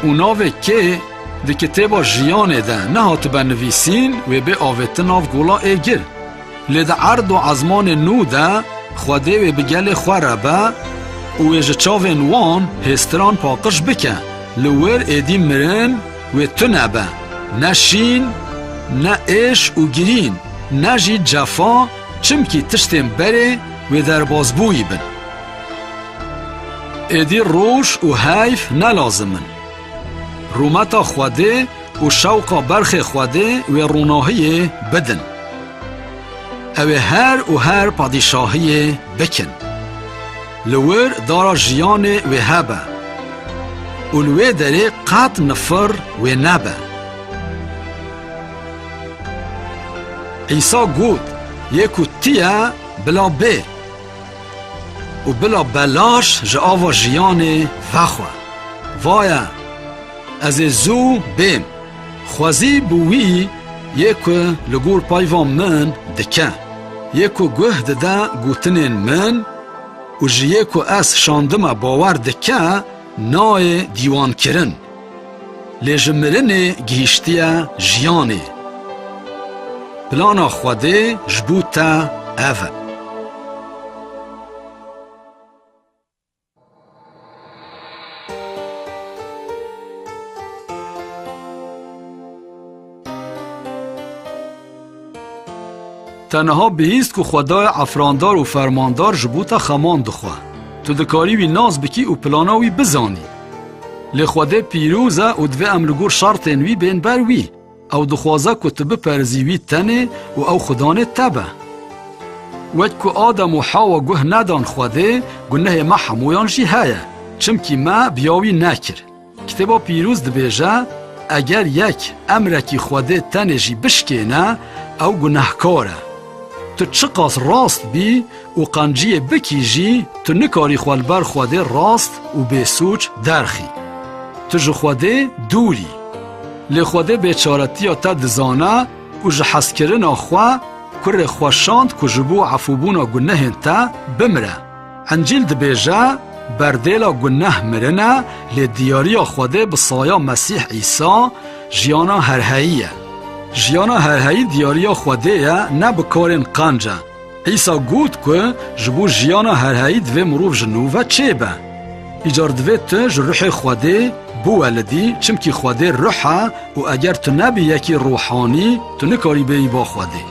Û navê kê di kitêba jiyanê de nehatibe nivîsîn wê bê avêtin nav gola ê gil. Lê di erd û ezmanê nû de Xwedê wê bi gelê xwe re be û wê ji çavên wan hêztiran paqij bike. Li wir êdî mirin, Wê tune be, ne şîn, ne êş û girîn, ne jî cefa, çimkî tiştên berê wê derbazbûyî bin. Êdî roj û heyf ne lazim in. Rûmeta Xwedê û şewqa berxê Xwedê wê ronahiyê bidin. Ew ê her û her padîşahiyê bikin. Li wir dara jiyanê wê hebe. Û li wê derê qet nifir wê nebe. Îsa got, Yê ku tî ye, bila bê. Û bila belaş ji ava jiyanê vexwe. Vaye, ez ê zû bêm. Xwezî bi wî yê ku li gor peyva min dike, yê ku guh dide gotinên min, Û ji yê ku ez şandime bawer dike nayê dîwankirin. Lê ji mirinê gihîştiye jiyanê. Plana Xwedê ji bo te ev e. Te niha bihîst ku xwedayê efrandar û fermandar ji bo te xeman dixwe. Tu dikarî wî nas bikî û plana wî bizanî. Lê xwedê pîroz e û divê em li gor şertên wî bên ber wî. Ew dixwaze ku tu biperzî wî tenê û ew xudanê te be. Wek ku Adem û Hawa guh nedan Xwedê, gunehê me hemûyan jî heye, çimkî me biya wî nekir. Kitêba Pîrûz dibêje, Eger yek emrekî Xwedê tenê jî bişkêne, ew gunehkar e. Tu çiqas rast bî, û qanciyê bikî jî tu nikarî xwe li ber Xwedê rast û bêsûc derxî. Tu ji Xwedê dûr î. Lê Xwedê bêçaretiya te dizane û ji hezkirina xwe kurê xwe şand ku ji bo efûbûna gunehên te bimire. Encîl dibêje, Berdêla guneh mirin e, lê diyariya Xwedê bi saya Mesîh Îsa jiyana herheyî ye. Jiyana herheyî diyariya Xwedê ye ne bi karên qanc e. Îsa got ku ji bo jiyana herheyî divê mirov ji nû ve çê be. Îcar divê tu ji ruhê Xwedê biwelidî çimkî Xwedê ruh e û eger tu nebî yekî ruhanî tu nikarî bêyî ba Xwedê.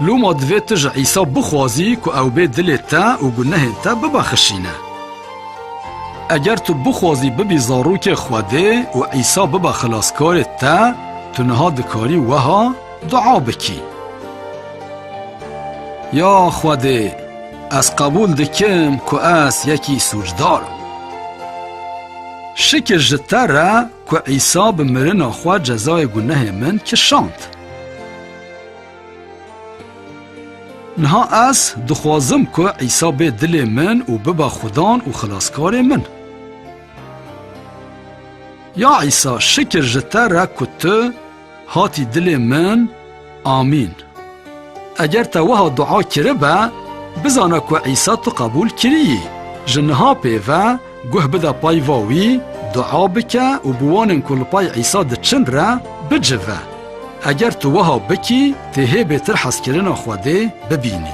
Loma divê tu ji Îsa bixwazî ku ew bê dilê te û gunehên te bibexişîne. Eger tu bixwazî bibî zarokê Xwedê û Îsa bibe xilaskarê te, tu niha dikarî weha Dua bikî. Ya Xwedê ez qebûl dikim ku ez yekî sûcdar im. Şikir ji te re ku Îsa bi mirina xwe cezayê gunehê min kişand. Niha ez dixwazim ku Îsa bê dilê min û bibe Xudan û Xilaskarê min. Ya Îsa şikir ji te re ku tu Hatî dilê min, Amîn. Eger te wiha dua kiribe, bizane ku Îsa tu qebûl kiriyî. Ji niha pê ve guh bide payva wî, dua bike û bi wanên ku li pay Îsa diçin re bicive. Eger tu wiha bikî, tê hê bêtir hezkirina Xwedê bibînî.